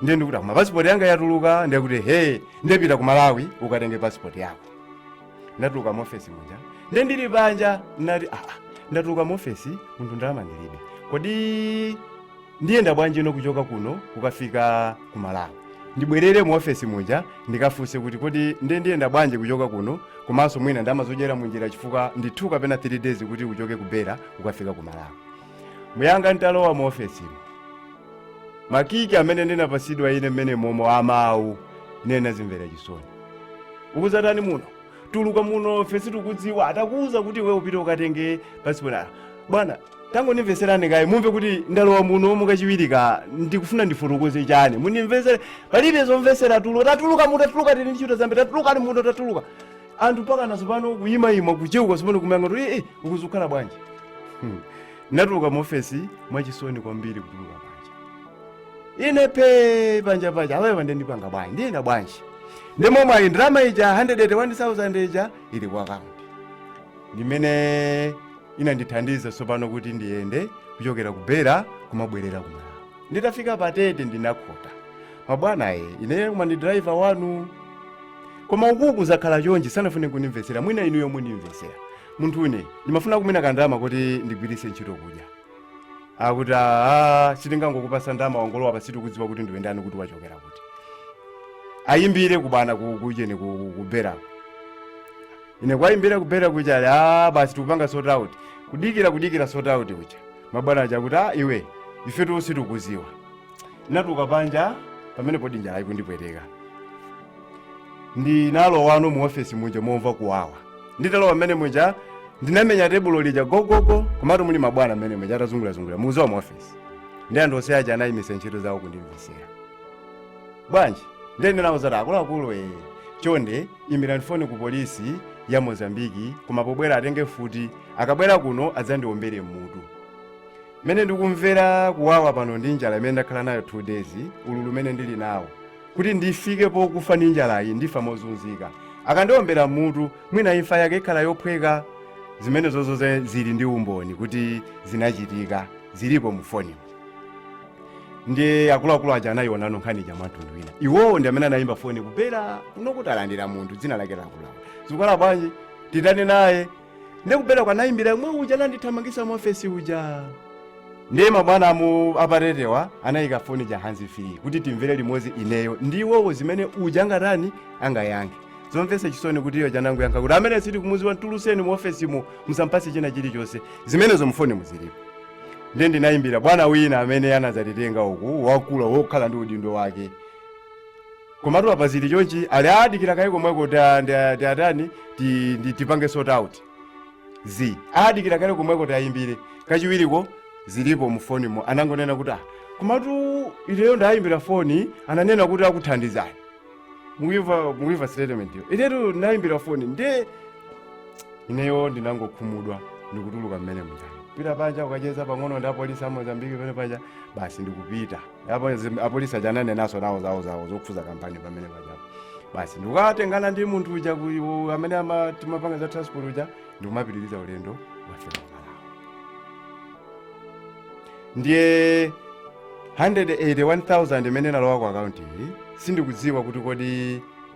ndiye ndikuti koma pasipoti yanga yatuluka ndiye kuti he ndiye pita ku malawi ukatenge pasipoti yako ndatuluka mu ofesi muja nde ndili panja nati aa ndatuluka mu ofesi munthu ndalama ndilibe kodi ndiyenda bwanjino kuchoka kuno kukafika ku malawi ndibwerere mu ofesi muja ndikafunse kuti kodi nde ndiyenda bwanji kuchoka kuno komanso mwina ndalama zodyera munjira chifukwa ndi 2 kapena 3 days kuti uchoke ku beira ukafika ku malawi muyanga nditalowa mu ofesimo makiki amene ndinapasidwa ine mmene momo amawu ine ndinadzimvera chisoni ukuzatani muno tuluka mu ofesi tikudziwa takuwuza kuti iwe upite ukatenge pasipoti bwana tangondimveserani kaye mumve kuti ndalowa muno mukachiwirika ndikufuna ndifotokoze chani mundimvesere palibe zomvesera tulu tatuluka muno tatuluka tili ntchito zambiri tatuluka muno tatuluka anthu mpakana tsopano kuyimayima kucheuka tsopano kumayang'ana kuti ee uku zikukhala bwanji Hmm. natuluka mu ofesi mwachisoni kwambiri kutuluka panja ine pe panja panja awewa nde ndipanga bwanji ndiyenda bwanji ndi momwe ayi ndalama ija 181,000 ija ili kwa akaunti ndimene inandithandiza tsopano kuti ndiyende kuchokera ku beira kumabwerera ku malawi nditafika pa tete ndinakhota mabwana e ineyo koma ndi driver wanu koma ukuku zakhala chonchi sanafune kundimvetsera mwina inuyo mundimvetsera munthune ndimafuna mwina kandama kuti ndigwiritse ntchito kudya akuti aa sitingangokupasa ndama wangolowa apa sitikudziwa kuti ndiwe ndani kuti wachokera kuti ayimbire kubana ku- kuujeni ku- ku- ku beirako ine kuwayimbira ku beira kuja ali a basi tikupanga sort out kudikira kudikira sort out kuja mabwana aja kuti a iwe ifetu sitikuziwa ndinatuluka panja pamenepodi njala ikundipweteka ndinalowano mu ofesi muja momva kuwawa nditalowa mmene muja ndinamenya tebulo lija gogogo komatu muli mabwana mmene muja atazungurazungulira muzowa mu ofesi ndi anthu onse aja anayimisa ntchito zawo kundimvesera bwanji nde ndinawauza kuti akuluakulu e chonde imbirani foni ku polisi ya mozambiki koma pobwera atenge mfuti akabwera kuno adzandiombere mmutu mmene ndikumvera kuwawa pano ndi njala imene ndakhala nayo 2 days ululu umene ndili nawo kuti ndifike pokufa ndi njalayi ndifa mozunzika akandiombera mmutu mwina imfa yake ikhala yophweka zimenezo zonse zili ndi umboni kuti zinachitika zilipo mu fonimu ndiye akuluakulu aja anayionano nkhani ija mwamtundu wina iwowo ndi amene anayimba foni ku Beira kunena kuti alandira munthu dzina lake lakulawa zikukhala bwanji titani naye ndiye ku Beirako anayimbira yemwe uja anandithamangisa mu ofesi uja ndiye mabwana amu apa Tetewa anayika foni ja hands free kuti timvere limodzi ineyo ndi iwowo zimene uja angatani angayankhe zomvesa chisoni kuti iye uja anangoyankha kuti amene sitikumuziwa mtuluseni mu ofesimo musampase china chilichonse zimenezo mufonimu zilipo ndiye ndinayimbira bwana wina amene anadzatitenga uku wakula wokhala ndi udindo wake Komatu apa zili chonchi ali adikire kaye komweko ta- nda- ti atani ti- ndi- tipange sort out zi adikire kaye komweko tayimbire kachiwiriko zilipo mu fonimo anangonena kuti ah komatu ineyo ndayimbira foni ananena kuti akuthandizani muimva muimva statement yo inetu ndayimbira foni nde ineyo ndinangokhumudwa ndikutuluka mmene muja nkupita panja kukacheza pang'ono ndi apolisi a mozambiki pene paja basi ndikupita apo zi- apolisi aja ananenanso nawo zawo zawo zokhuza kampani pamene pajapo basi ndikukatengana ndi munthu uja ku- u- amene ama- timapanga za transport uja ndikumapitiriza ulendo wofika ku malawi ndiye 181000 imene inalowa ku akaunti iyi sindikudziwa kuti kodi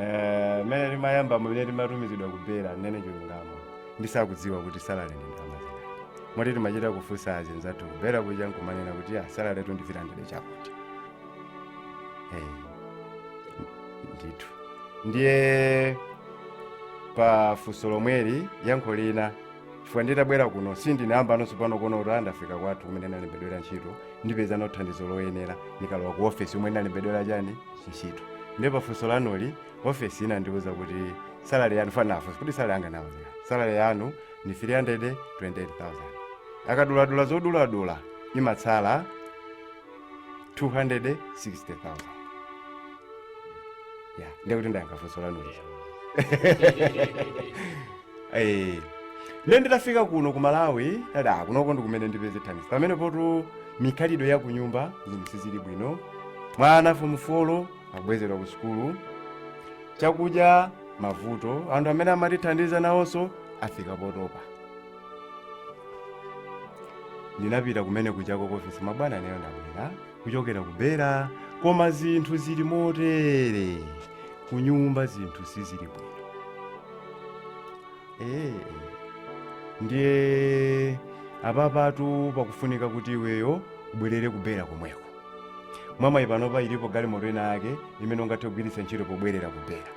Eh, mene timayamba mene timatumizidwa ku Beira ndinene chilungamo ndisakudziwa kuti salary ndi ndalama zingati moti timachita kufunsa azinzathu ku Beira kuja nkumanena kuti ah, salary tundivirandire chakuti hey. ndithu ndiye pa funso lomweli yankho lina chifukwa nditabwera kuno sindinayamba nonso pano kuona kuti ndafika kwathu kumene ndalembedwera ntchito ndipezano thandizo loyenera ndikalowa ku ofesi kumene ndalembedwera chani ntchito ndiye pafunso lanuli ofesi inandiwuza kuti salary yanu ndinafunsa kuti salary yanga nawuzira salary yanu ni 328000 akaduladula zoduladula imatsala 260000 ya ndiye kuti ndayankha funso lanuli Eh, ne nditafika kuno ku malawi dada kunoko ndikumene ndipeze thandizo pamene poti mikhalidwe ya kunyumba zinthu sizili bwino mwana fomu folo akubwezedwa ku sukulu chakudya mavuto anthu amene amatithandiza nawonso afika potopa ndinapita kumene kujako ku ofisi mabwana ineyo ndabwera kuchokera ku Beira koma zinthu zili motere kunyumba zinthu sizili bwino ee ndiye apapatu pakufunika kuti iweyo ubwerere ku Beira komweko mwamwayi panopa ilipo galimoto ina yake imene ungathe kugwiritsa ntchito pobwerera ku Beira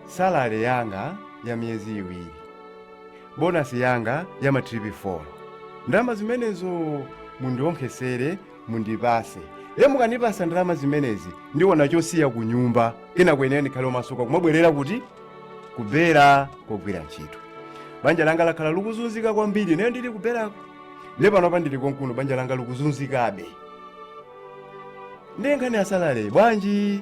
salale yanga ya miyezi iwiri bonasi yanga ya matripi 4 ndalama zimenezo mundionkhesere mundipase nde mukandipasa ndalama zimenezi ndiona chosiya ku nyumba kenako ineyo ndikhale omasuka kumabwerera kuti ku Beira kogwira ntchito banja langa lakhala likuzunzika kwambiri ineyo ndili ku Beirako nde panopa ndili konkuno banja langa likuzunzikabe ndiye nkhani ya salale bwanji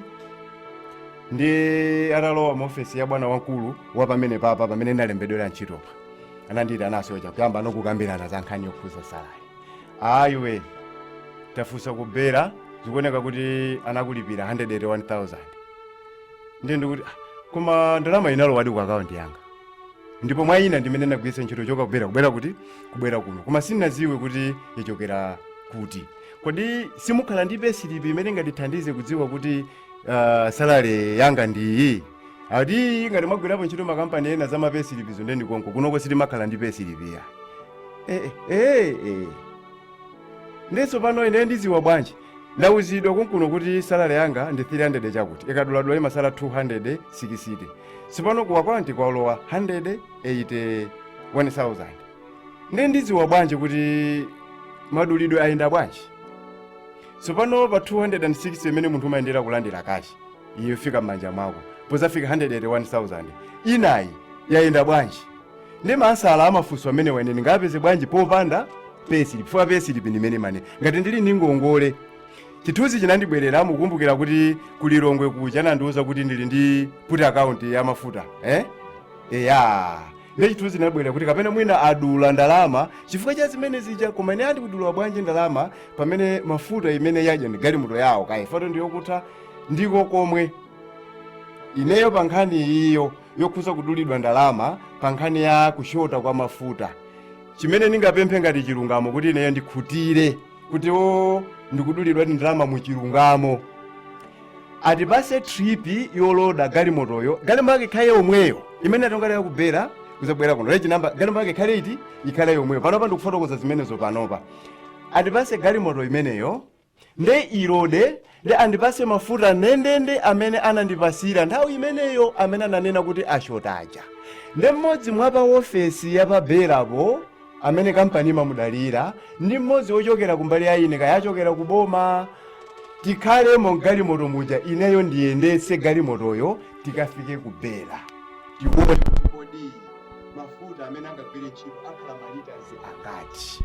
ndiye atalowa mu ofesi ya bwana wamkulu wa pamene papa pamene ndinalembedwera ntchitopa ananditi anasocha kuyamba nawo kukambirana za nkhani yokhuza salale a iwe tafunsa ku Beira zikuoneka kuti anakulipira 181000 ndiye ndikuti "Ah, koma ndalama inalowadi ku akaunti yanga ndipo mwina ndimene ndagwiritsa ntchito kuchoka ku Beira kuti kubwera kuno koma sinaziwe kuti yachokera kuti Kodi simukhala ndi payslip imene ingatithandize kudziwa kuti uh, salary yanga ndi iyi? Ati ngati mwagwirapo ntchito makampani ena za ma payslip zo nde ndi konko kunoko sitimakhala ndi payslip ya. Eh eh eh. Nde sopano ine ndiziwa bwanji? Ndauzidwa konkuno kuti salary yanga ndi 300 chakuti. Ikaduladula imasala 260. Sopano ku akaunti kwalowa 181000. ndiye ndidziwa bwanji kuti madulidwe ayenda bwanji tsopano pa 260 imene munthu umayenera kulandira kashi iyo yofika m'manja mwako pozafika 181000 inayi yayenda bwanji ndi maansala a mafunso amenewa ine ndingapeze bwanji popanda pesilipi chifukwa pesilipi ndimene imanena ngati ndili ndi ngongole chithunzi chinandibwerera nkukumbukira kuti ku Lilongwe kuja anandiwuza kuti ndili ndi put account ya mafuta eh? eya ndiye chithunzi chinabwera kuti kapena mwina adula ndalama chifukwa cha zimene zija koma ine andi kudula bwanji ndalama pamene mafuta imene yadya ndi galimoto yawo kaya fault ndi yokutha ndiko komwe ineyo pa nkhani iyo yokhuza kudulidwa ndalama pa nkhani ya kushota kwa mafuta chimene ndingapemphe ngati chilungamo kuti ineyo ndikhutire kuti o ndikudulidwa ndalama mu chilungamo atipase tripi yoloda galimotoyo galimoto yake ikhale yomweyo imene atongalira ku Beira kuzabwera kuno reji namba galimoto yake ikhale iti ikhale yomweyo panopa ndikufotokoza zimenezo panopa atipase galimoto imeneyo nde ilode Nde andipase mafuta ndendende amene anandipasira nthawi imeneyo amene ananena kuti ashota aja. Nde mmodzi mwa pa ofesi ya pa Beira po amene kampani imamudalira ndi mmodzi wochokera kumbali ya ine kaya achokera ku boma tikhalemo mgalimoto muja ineyo ndiyendetse galimotoyo tikafike ku Beira tikaone kuti kodi mafuta amene angagwire ntchito akhala malitazi angati.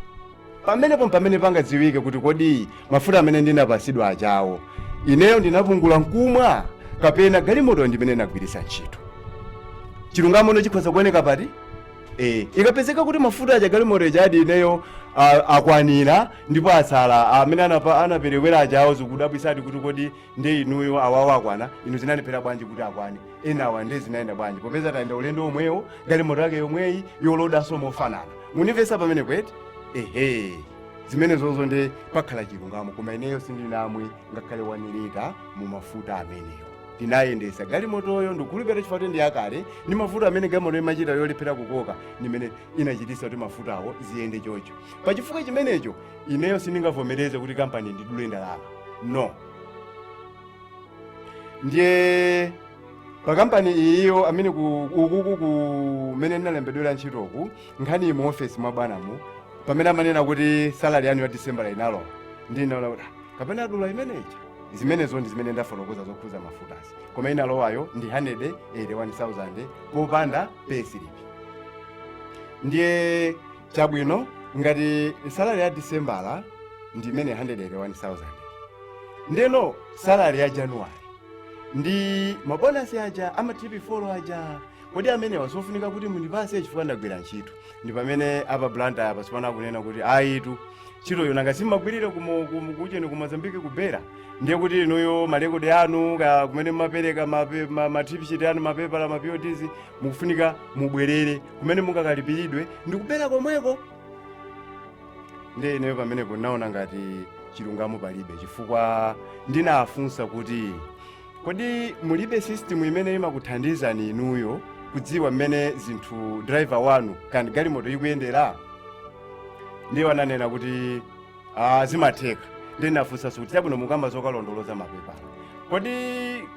pamenepo mpamene pangadziwike kuti kodi mafuta amene ndinapatsidwa ajawo ineyo ndinapungula nkumwa kapena galimoto ndimene inagwiritsa ntchito chilungamono chikhoza kuoneka pati e, ikapezeka kuti mafuta aja galimoto ijadi ineyo a- akwanira ndipo atsala amene anapa- anaperewera ajawo zikudabwisadi kuti kodi nde inuyo awawo akwana inu zinalephera bwanji kuti akwane enawa nde zinayenda bwanji popeza tayenda ulendo omwewo galimoto yake yomweyi yolodanso mofanana munimvesa pamenepo eti ehe zimenezozo nde pakhala chilungamo koma ineyo sindinamwe ngakhale wani lita mu mafuta amenewo ndinayendesa galimotoyo ndikhulupirira chifukwa kuti ndi yakale ndi mafuta amene galimoto imachita yolephera kukoka ndimene inachitisa kuti mafutawo ziyende chocho pa chifukwa chimenecho ineyo sindingavomereze kuti kampani indidule ndalama no ndiye pa kampani iyiyo amene ku- ukuku kumene ndinalembedwera ntchitoku nkhani mu ofesi mwa bwanamu pamene amanena kuti salari yanu ya disembala inalowa ndinaona kuti "Ah, kapena adula imeneja zimenezo ndi zimene ndafotokoza zokhuza mafutazi koma inalowayo ndi 181,000 popanda pay slip ndiye chabwino ngati salary ya disembala ndi imene 181,000 ndeno salary ya januwale ndi mabonasi aja a matripi folo aja kodi amenewa sofunika kuti mundipase chifukwa ndagwira ntchito ndi pamene a pa Blantyre apa sipano akunena kuti ayitu ntchitoyo nanga si mmagwirira kumo- kumu- kujeni ku mozambike ku Beira ndiye kuti inuyo malekodi anu ka- kumene mumapereka mape- ma- ma trip sheet anu mapepala maPODs mukufunika mubwerere kumene mungakalipiridwe ndi ku Beira komweko ndiye ineyo pamenepo ndinaona ngati chilungamo palibe chifukwa ndinafunsa kuti kodi mulibe system imene imakuthandizani inuyo kudziwa mmene zinthu driver wanu kandi galimoto ikuyendera ndiye ananena kuti Ah, zimatheka ndiye ndinafunsanso kuti chabwino mukamba zokalondoloza mapepala kodi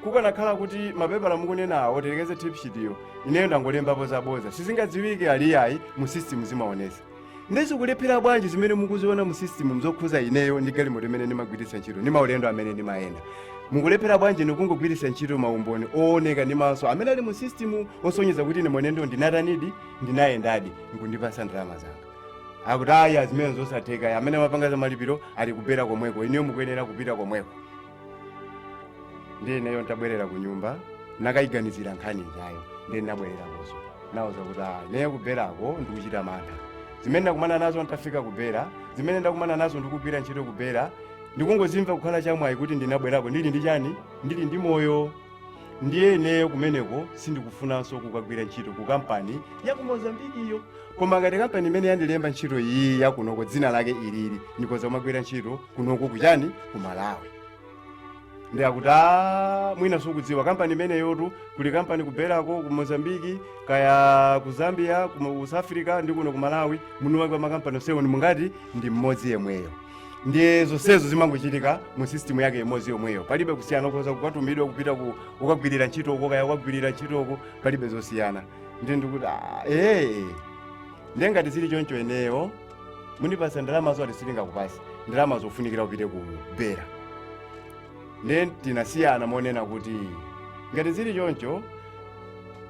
kukanakhala kuti mapepala mukunena awo telekeze tipshitiyo ineyo ndangolembapo zaboza sizingadziwike aliyayi mu system zimaonesa ndiye zikulephera bwanji zimene mukuziona mu system zokhudza ineyo ndi galimoto imene ndimagwiritsa ntchito ndi maulendo amene ndimayenda mukulephera bwanji ndikungogwiritsa ntchito maumboni ooneka ndi maso amene ali mu system osonyeza kuti ine mwenendo ndinatanidi ndinayendadi nkundipatsa ndalama zanga akuti ayi zimene zosatheka ayi amene amapanga za malipiro ali ku Beira komweko inuyo mukuyenera kupita komweko ndiye ineyo ntabwerera ku nyumba nakayiganizira nkhani ijayo ndiye ndinabwererakonso nawauza kuti ah, ineyo ku Beirako ndikuchita mantha zimene ndakumana nazo ntafika ku Beira zimene ndakumana nazo ndikugwira ntchito ku Beira ndikungozimva kukhala chamwayi kuti ndinabwerako ndili ndi chani ndili ndi moyo ndiye ineyo kumeneko sindikufunanso kukagwira ntchito ku kampani ya ku mozambikiyo koma ngati kampani imene yandilemba ntchito iyi yakunoko dzina lake ilili ndikoza kumagwira ntchito kunoko kuchani ku malawi ndiye akuti "Ah, mwina simukudziwa kampani imeneyotu kuli kampani ku Beirako ku mozambiki kaya ku zambia ku south africa ndi kuno ku malawi mwiniwake wa makampani onsewo ndi mngati ndi mmodzi yemweyo ndiye zonsezo zimangochitika mu system yake imodzi yomweyo palibe kusiyana ukhoza kukatumidwa kupita ukagwirira ntchito uko kaya ukagwirira ntchito uko palibe zosiyana ndiye ndikuti "Ah, ee ndiye ngati zili choncho ineyo mundipatsa ndalamazo ati sitingakupatse ndalamazo kufunikira upite ku Beira ndiye tinasiyana monena kuti ngati zili choncho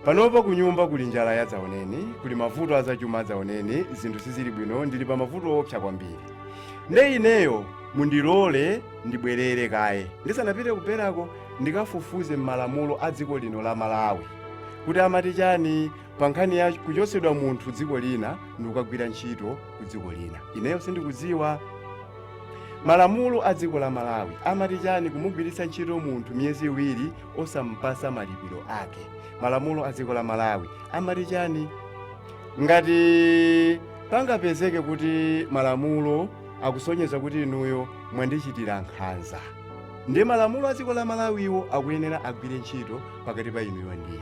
panopa kunyumba kuli njala yadzaoneni kuli mavuto azachuma adzaoneni zinthu sizili bwino ndili pa mavuto owopsa kwambiri nde ineyo mundilole ndibwerere kaye ndisanapite ku Beirako ndikafufuze m'malamulo a dziko lino la malawi kuti amati chani pa nkhani ya kuchotsedwa munthu dziko lina ndikukagwira ntchito ku dziko lina ineyo sindikudziwa malamulo a dziko la malawi amati chani kumugwiritsa ntchito munthu miyezi iwiri osampasa malipiro ake malamulo a dziko la malawi amati chani ngati pangapezeke kuti malamulo akusonyeza kuti inuyo mwandichitira nkhanza ndiye malamulo a dziko la malawiwo akuyenera agwire ntchito pakati pa inuyo ndine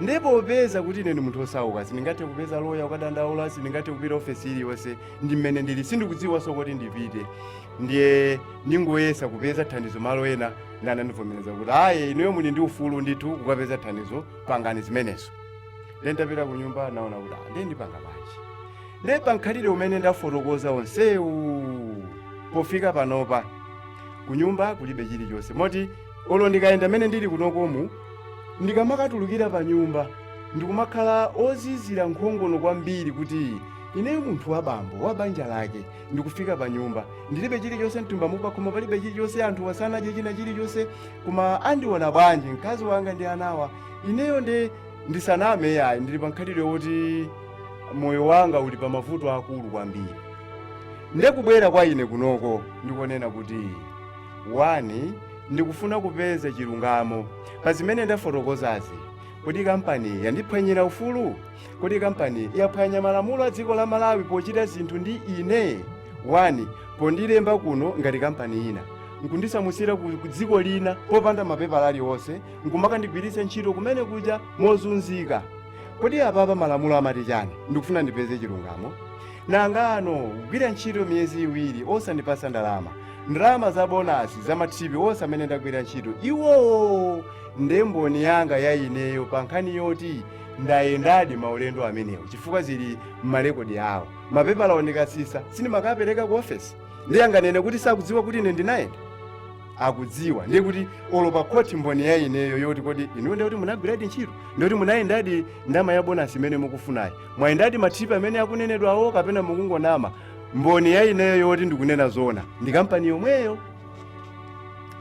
ndipo popeza kuti ine ndi munthu osauka sindingathe kupeza loya kukadandaula sindingathe kupita ofesi iliyonse ndi mmene ndili sindikudziwanso koti ndipite ndiye ndingoyesa kupeza thandizo malo ena ndiye anandivomereza kuti ayi inuyo muli ndi ufulu ndithu kukapeza thandizo pangani zimenezo ndiye ntapita ku nyumba naona kuti "Ah, ndiye ndipanga bwanji ndiye pamkhalidwe umene ndafotokoza onsewu pofika panopa ku nyumba kulibe chilichonse moti olo ndikayenda mene ndili kunokomu ndikamakatulukira pa nyumba ndikumakhala ozizira nkhongono kwambiri kuti ineyo munthu wa bambo wa banja lake ndikufika pa nyumba ndilibe chilichonse mthumba umu koma palibe chilichonse anthu asanadye china chilichonse koma andiona bwanji mkazi wanga ndi anawa ineyo nde ndisaname yayi ndili pa mkhalidwe woti moyo wanga uli pa mavuto aakulu kwambiri nde kubwera kwa ine kunoko nkonena kuti wani ndikufuna kupeza chilungamo pa zimene ndafotokozazi kodi kampani yandiphwanyira ufulu Kodi kampani yaphwanya malamulo a dziko la Malawi pochita zinthu ndi ine? wani pondilemba kuno ngati kampani ina nkundisamutsira ku dziko lina popanda mapepala aliwonse nkumakandigwiritsa ntchito kumene kuja mozunzika kodi apapa malamulo amati chani ndikufuna ndipeze chilungamo nangano kugwira ntchito miyezi iwiri osandipasa ndalama ndalama za bonasi za matiripi onse amene ndagwira ntchito iwowo nde mboni yanga ya ineyo pa nkhani yoti ndayendadi maulendo amenewo chifukwa zili m'malekodi awo mapepala ndikatsitsa si ndimakapereka ku ofesi ndiye anganene kuti sakudziwa kuti ine ndinayenda akudziwa ndiye kuti olo pa khoti mboni ya ineyo yoti kodi inuyo ndiye kuti munagwiradi ntchito ndiye kuti munayendadi ndama ya bonasi imene mukufunayi mwayendadi matiripi amene akunenedwawo kapena mukungonama mboni ya ineyo yoti ndikunena zoona ndi kampani yomweyo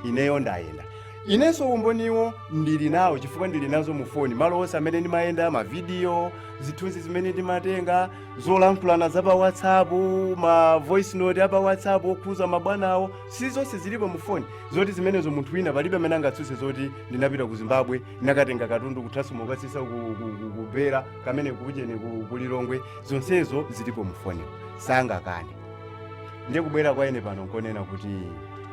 ineyo ndayenda Inenso umboniwo ndili nawo chifukwa ndili nazo mu foni, malo onse amene ndimayenda, mavidiyo, zithunzi zimene ndimatenga, zolankhulana za pa WhatsApp, ma voice note a pa WhatsApp okhuza mabwanawo, si zonse zilipo mu foni zoti zimenezo munthu wina palibe amene angatsutse zoti ndinapita ku Zimbabwe nakatenga katundu kuthanso nkukatsitsa ku, ku, ku, ku Beira kameneko cheni ku, ku Lilongwe, zonsezo zilipo mu foni, sangakane. Ndiye kubwera kwa ine pano nkonena kuti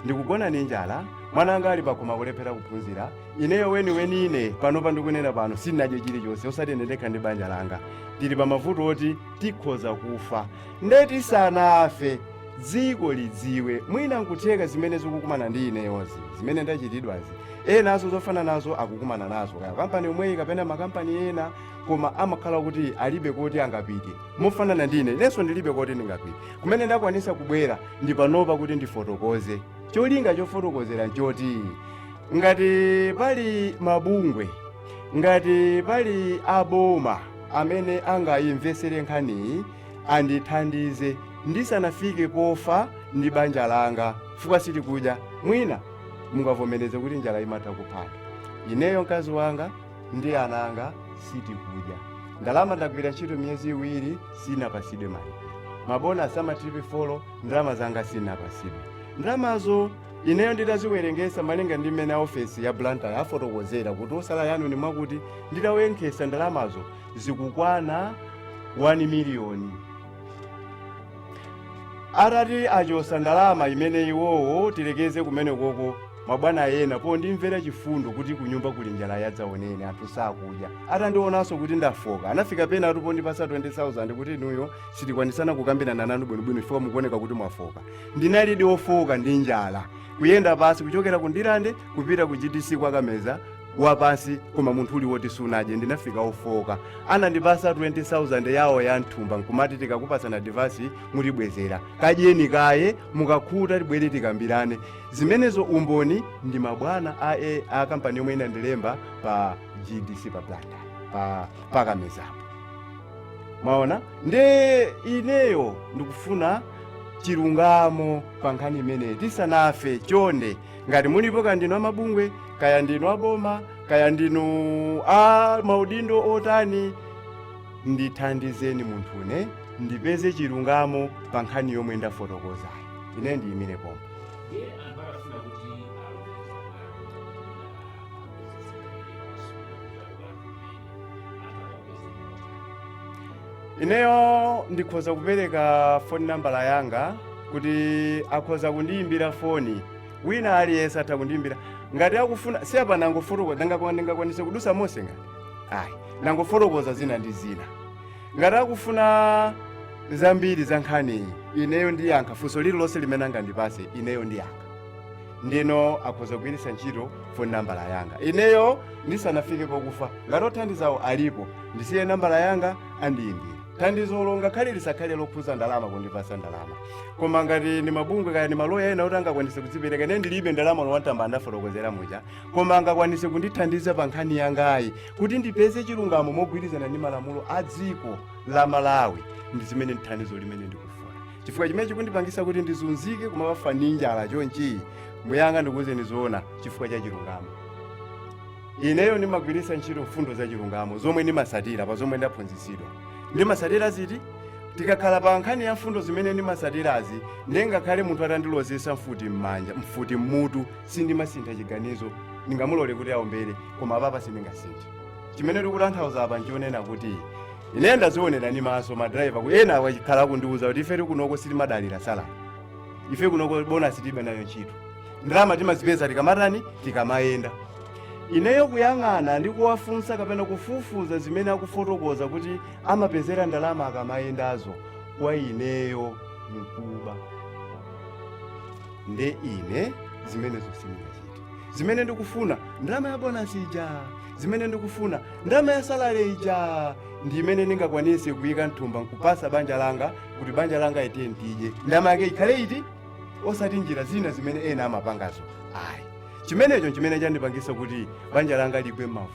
ndikugona ndi njala wana anga ali pakhomo kulephera kuphunzira ineyo weniweni ine panopa ndikunena pano sindinadye chilichonse osati ine ndekha ndi banja langa tili pa mavuto oti tikhoza kufa nde tisanafe dziko lidziwe mwina nkutheka zimene zikukumana ndi ineyozi zimene ndachitidwazi enanso zofanana nazo akukumana nazo kaya kampani yomweyi kapena makampani ena koma amakhala kuti alibe koti angapite mofanana ndi ine inenso ndilibe koti ndingapite kumene ndakwanisa kubwera ndi panopa kuti ndifotokoze cholinga chofotokozera nchoti ngati pali mabungwe ngati pali aboma amene angayimvesere nkhaniyi andithandize ndisanafike pofa ndi banja langa chifukwa sitikudya mwina mungavomereze kuti njala imatha kuphana ineyo mkazi wanga ndi ana anga sitikudya ndalama ndagwira ntchito miyezi iwiri sinapasidwe malipiro mabonasi a matiripi folo Ndalama zanga sinapasidwe. Ndalamazo ineyo nditaziwerengesa malinga ndi mmene aofesi ya Blantyre afotokozera kuti zosala zanu ni mwakuti nditawonkhesa ndalamazo zikukwana 1 miliyoni. Atati achosa ndalama imene iwowo tilekeze kumene koko mabwana ena pondimvera chifundo kuti kunyumba kuli njala yadzaoneni anthu sakudya atandionanso kuti ndafoka anafika penapatu pondipasa 20000 kuti inuyo sitikwanisa kukambirana nanu bwinobwino chifukwa mukuoneka kuti mwafoka ndinalidi ofoka ndi njala kuyenda pansi kuchokera ku ndilande kupita ku gtc kwa kameza wapansi koma munthu uli woti sunadye ndinafika ofoka anandipasa 20000 yawo ya mthumba nkumati tikakupasani adivasi mutibwezera kadyeni kaye mukakhuta tibwere tikambirane zimenezo umboni ndi mabwana a, a, a kampani yomwe inandilemba pa gtc pa blanda pa, pa kamezapo mwaona nde ineyo ndikufuna chilungamo pa nkhani imeneyi tisanafe chonde ngati mulipo kaya ndinu amabungwe kaya ndinu aboma kaya ndinu a maudindo otani ndithandizeni munthune ndipeze chilungamo pa nkhani yomwe ndafotokozayi ine ndiyimire pomwe ineyo ndikhoza kupereka foni nambala yanga kuti akhoza kundiyimbira foni wina aliyense atha kundiyimbira ngati akufuna si apa nangofotokoza ndingakwa- ndingakwanise kudusa mose ngati ayi nangofotokoza zina ndi zina ngati akufuna zambiri za nkhaniyi ineyo ndiyankha funso lililonse limene angandipase ineyo ndiyankha ndiye akhoza kugwiritsa ntchito foni nambala yanga ineyo ndisanafike pokufa ngati othandizawo alipo ndisiye nambala yanga andiyimbire thandizolo ngakhale lisakhale lokhuza ndalama kundipasa ndalama koma ngati ndi mabungwe kaya ndi maloya ena kuti angakwanise kudzipereka ine ndilibe ndalama olo wani tambala ndafotokozera muja koma angakwanise kundithandiza pa nkhani yangayi kuti ndipeze chilungamo mogwirizana ndi malamulo a dziko la malawi ndi zimene ndi thandizo limene ndikufuna chifukwa chimene chikundipangisa kuti ndizunzike kumafa ndi njala chonchi mbuyanga ndikuwuzeni zoona chifukwa cha chilungamo ineyo ndimagwiritsa ntchito mfundo za chilungamo zomwe ndimasatira pa zomwe ndaphunzitsidwa ndimasatira ziti tikakhala pa nkhani ya mfundo zimene ndimasatirazi ndi ngakhale munthu atandilozesa mfuti m'manja mfuti m'mutu sindimasintha chiganizo ndingamulole kuti aombere koma apapa sindingasinthe chimene tikutanthauza apa nchonena kuti ine ndazionera ndi maso madrayiva ena akhala akundiuza kuti ife tikunoko sitimadalira salari ife kunoko bonasi tibe nayo ntchito ndalama timazipeza tikamatani tikamayenda ineyo kuyang'ana ndi kuwafunsa kapena kufufuza zimene akufotokoza kuti amapezera ndalama akamayendazo kwa ineyo mkuba nde ine zimenezo sindingachite zimene ndikufuna ndalama ya bonasi ija zimene ndikufuna ndalama ya salale ija ndi imene ndingakwanise kuyika mthumba nkupatsa banja langa kuti banja langa lidye ndalama yake ikhale iti osati njira zina zimene ena amapangazo ayi chimenecho nchimene chandipangisa kuti banja langa ligwe mavuto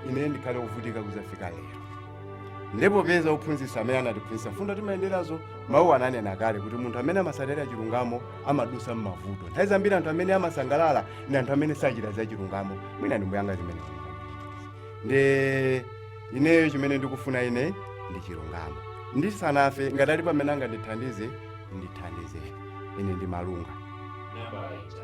ine ndikhale kuvutika kuzafika lero ndiye popeza ophunzitsa amene anatiphunzitsa mfundo timayenderazo mawu ananena kale kuti munthu amene amatsatira chilungamo amadusa m'mavuto nthawi zambiri anthu amene amasangalala ndi anthu amene sachita za chilungamo mwina ndi mbuyanga zimenezi nde ineyo chimene ndikufuna ine ndi chilungamo ndisanafe ngati ali amene angandithandize andithandize ine ndi malunga Nambala ija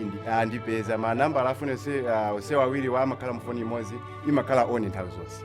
indi andipeza manambala a foni onse awiriwa amakhala mufoni imodzi imakhala on nthawi zonse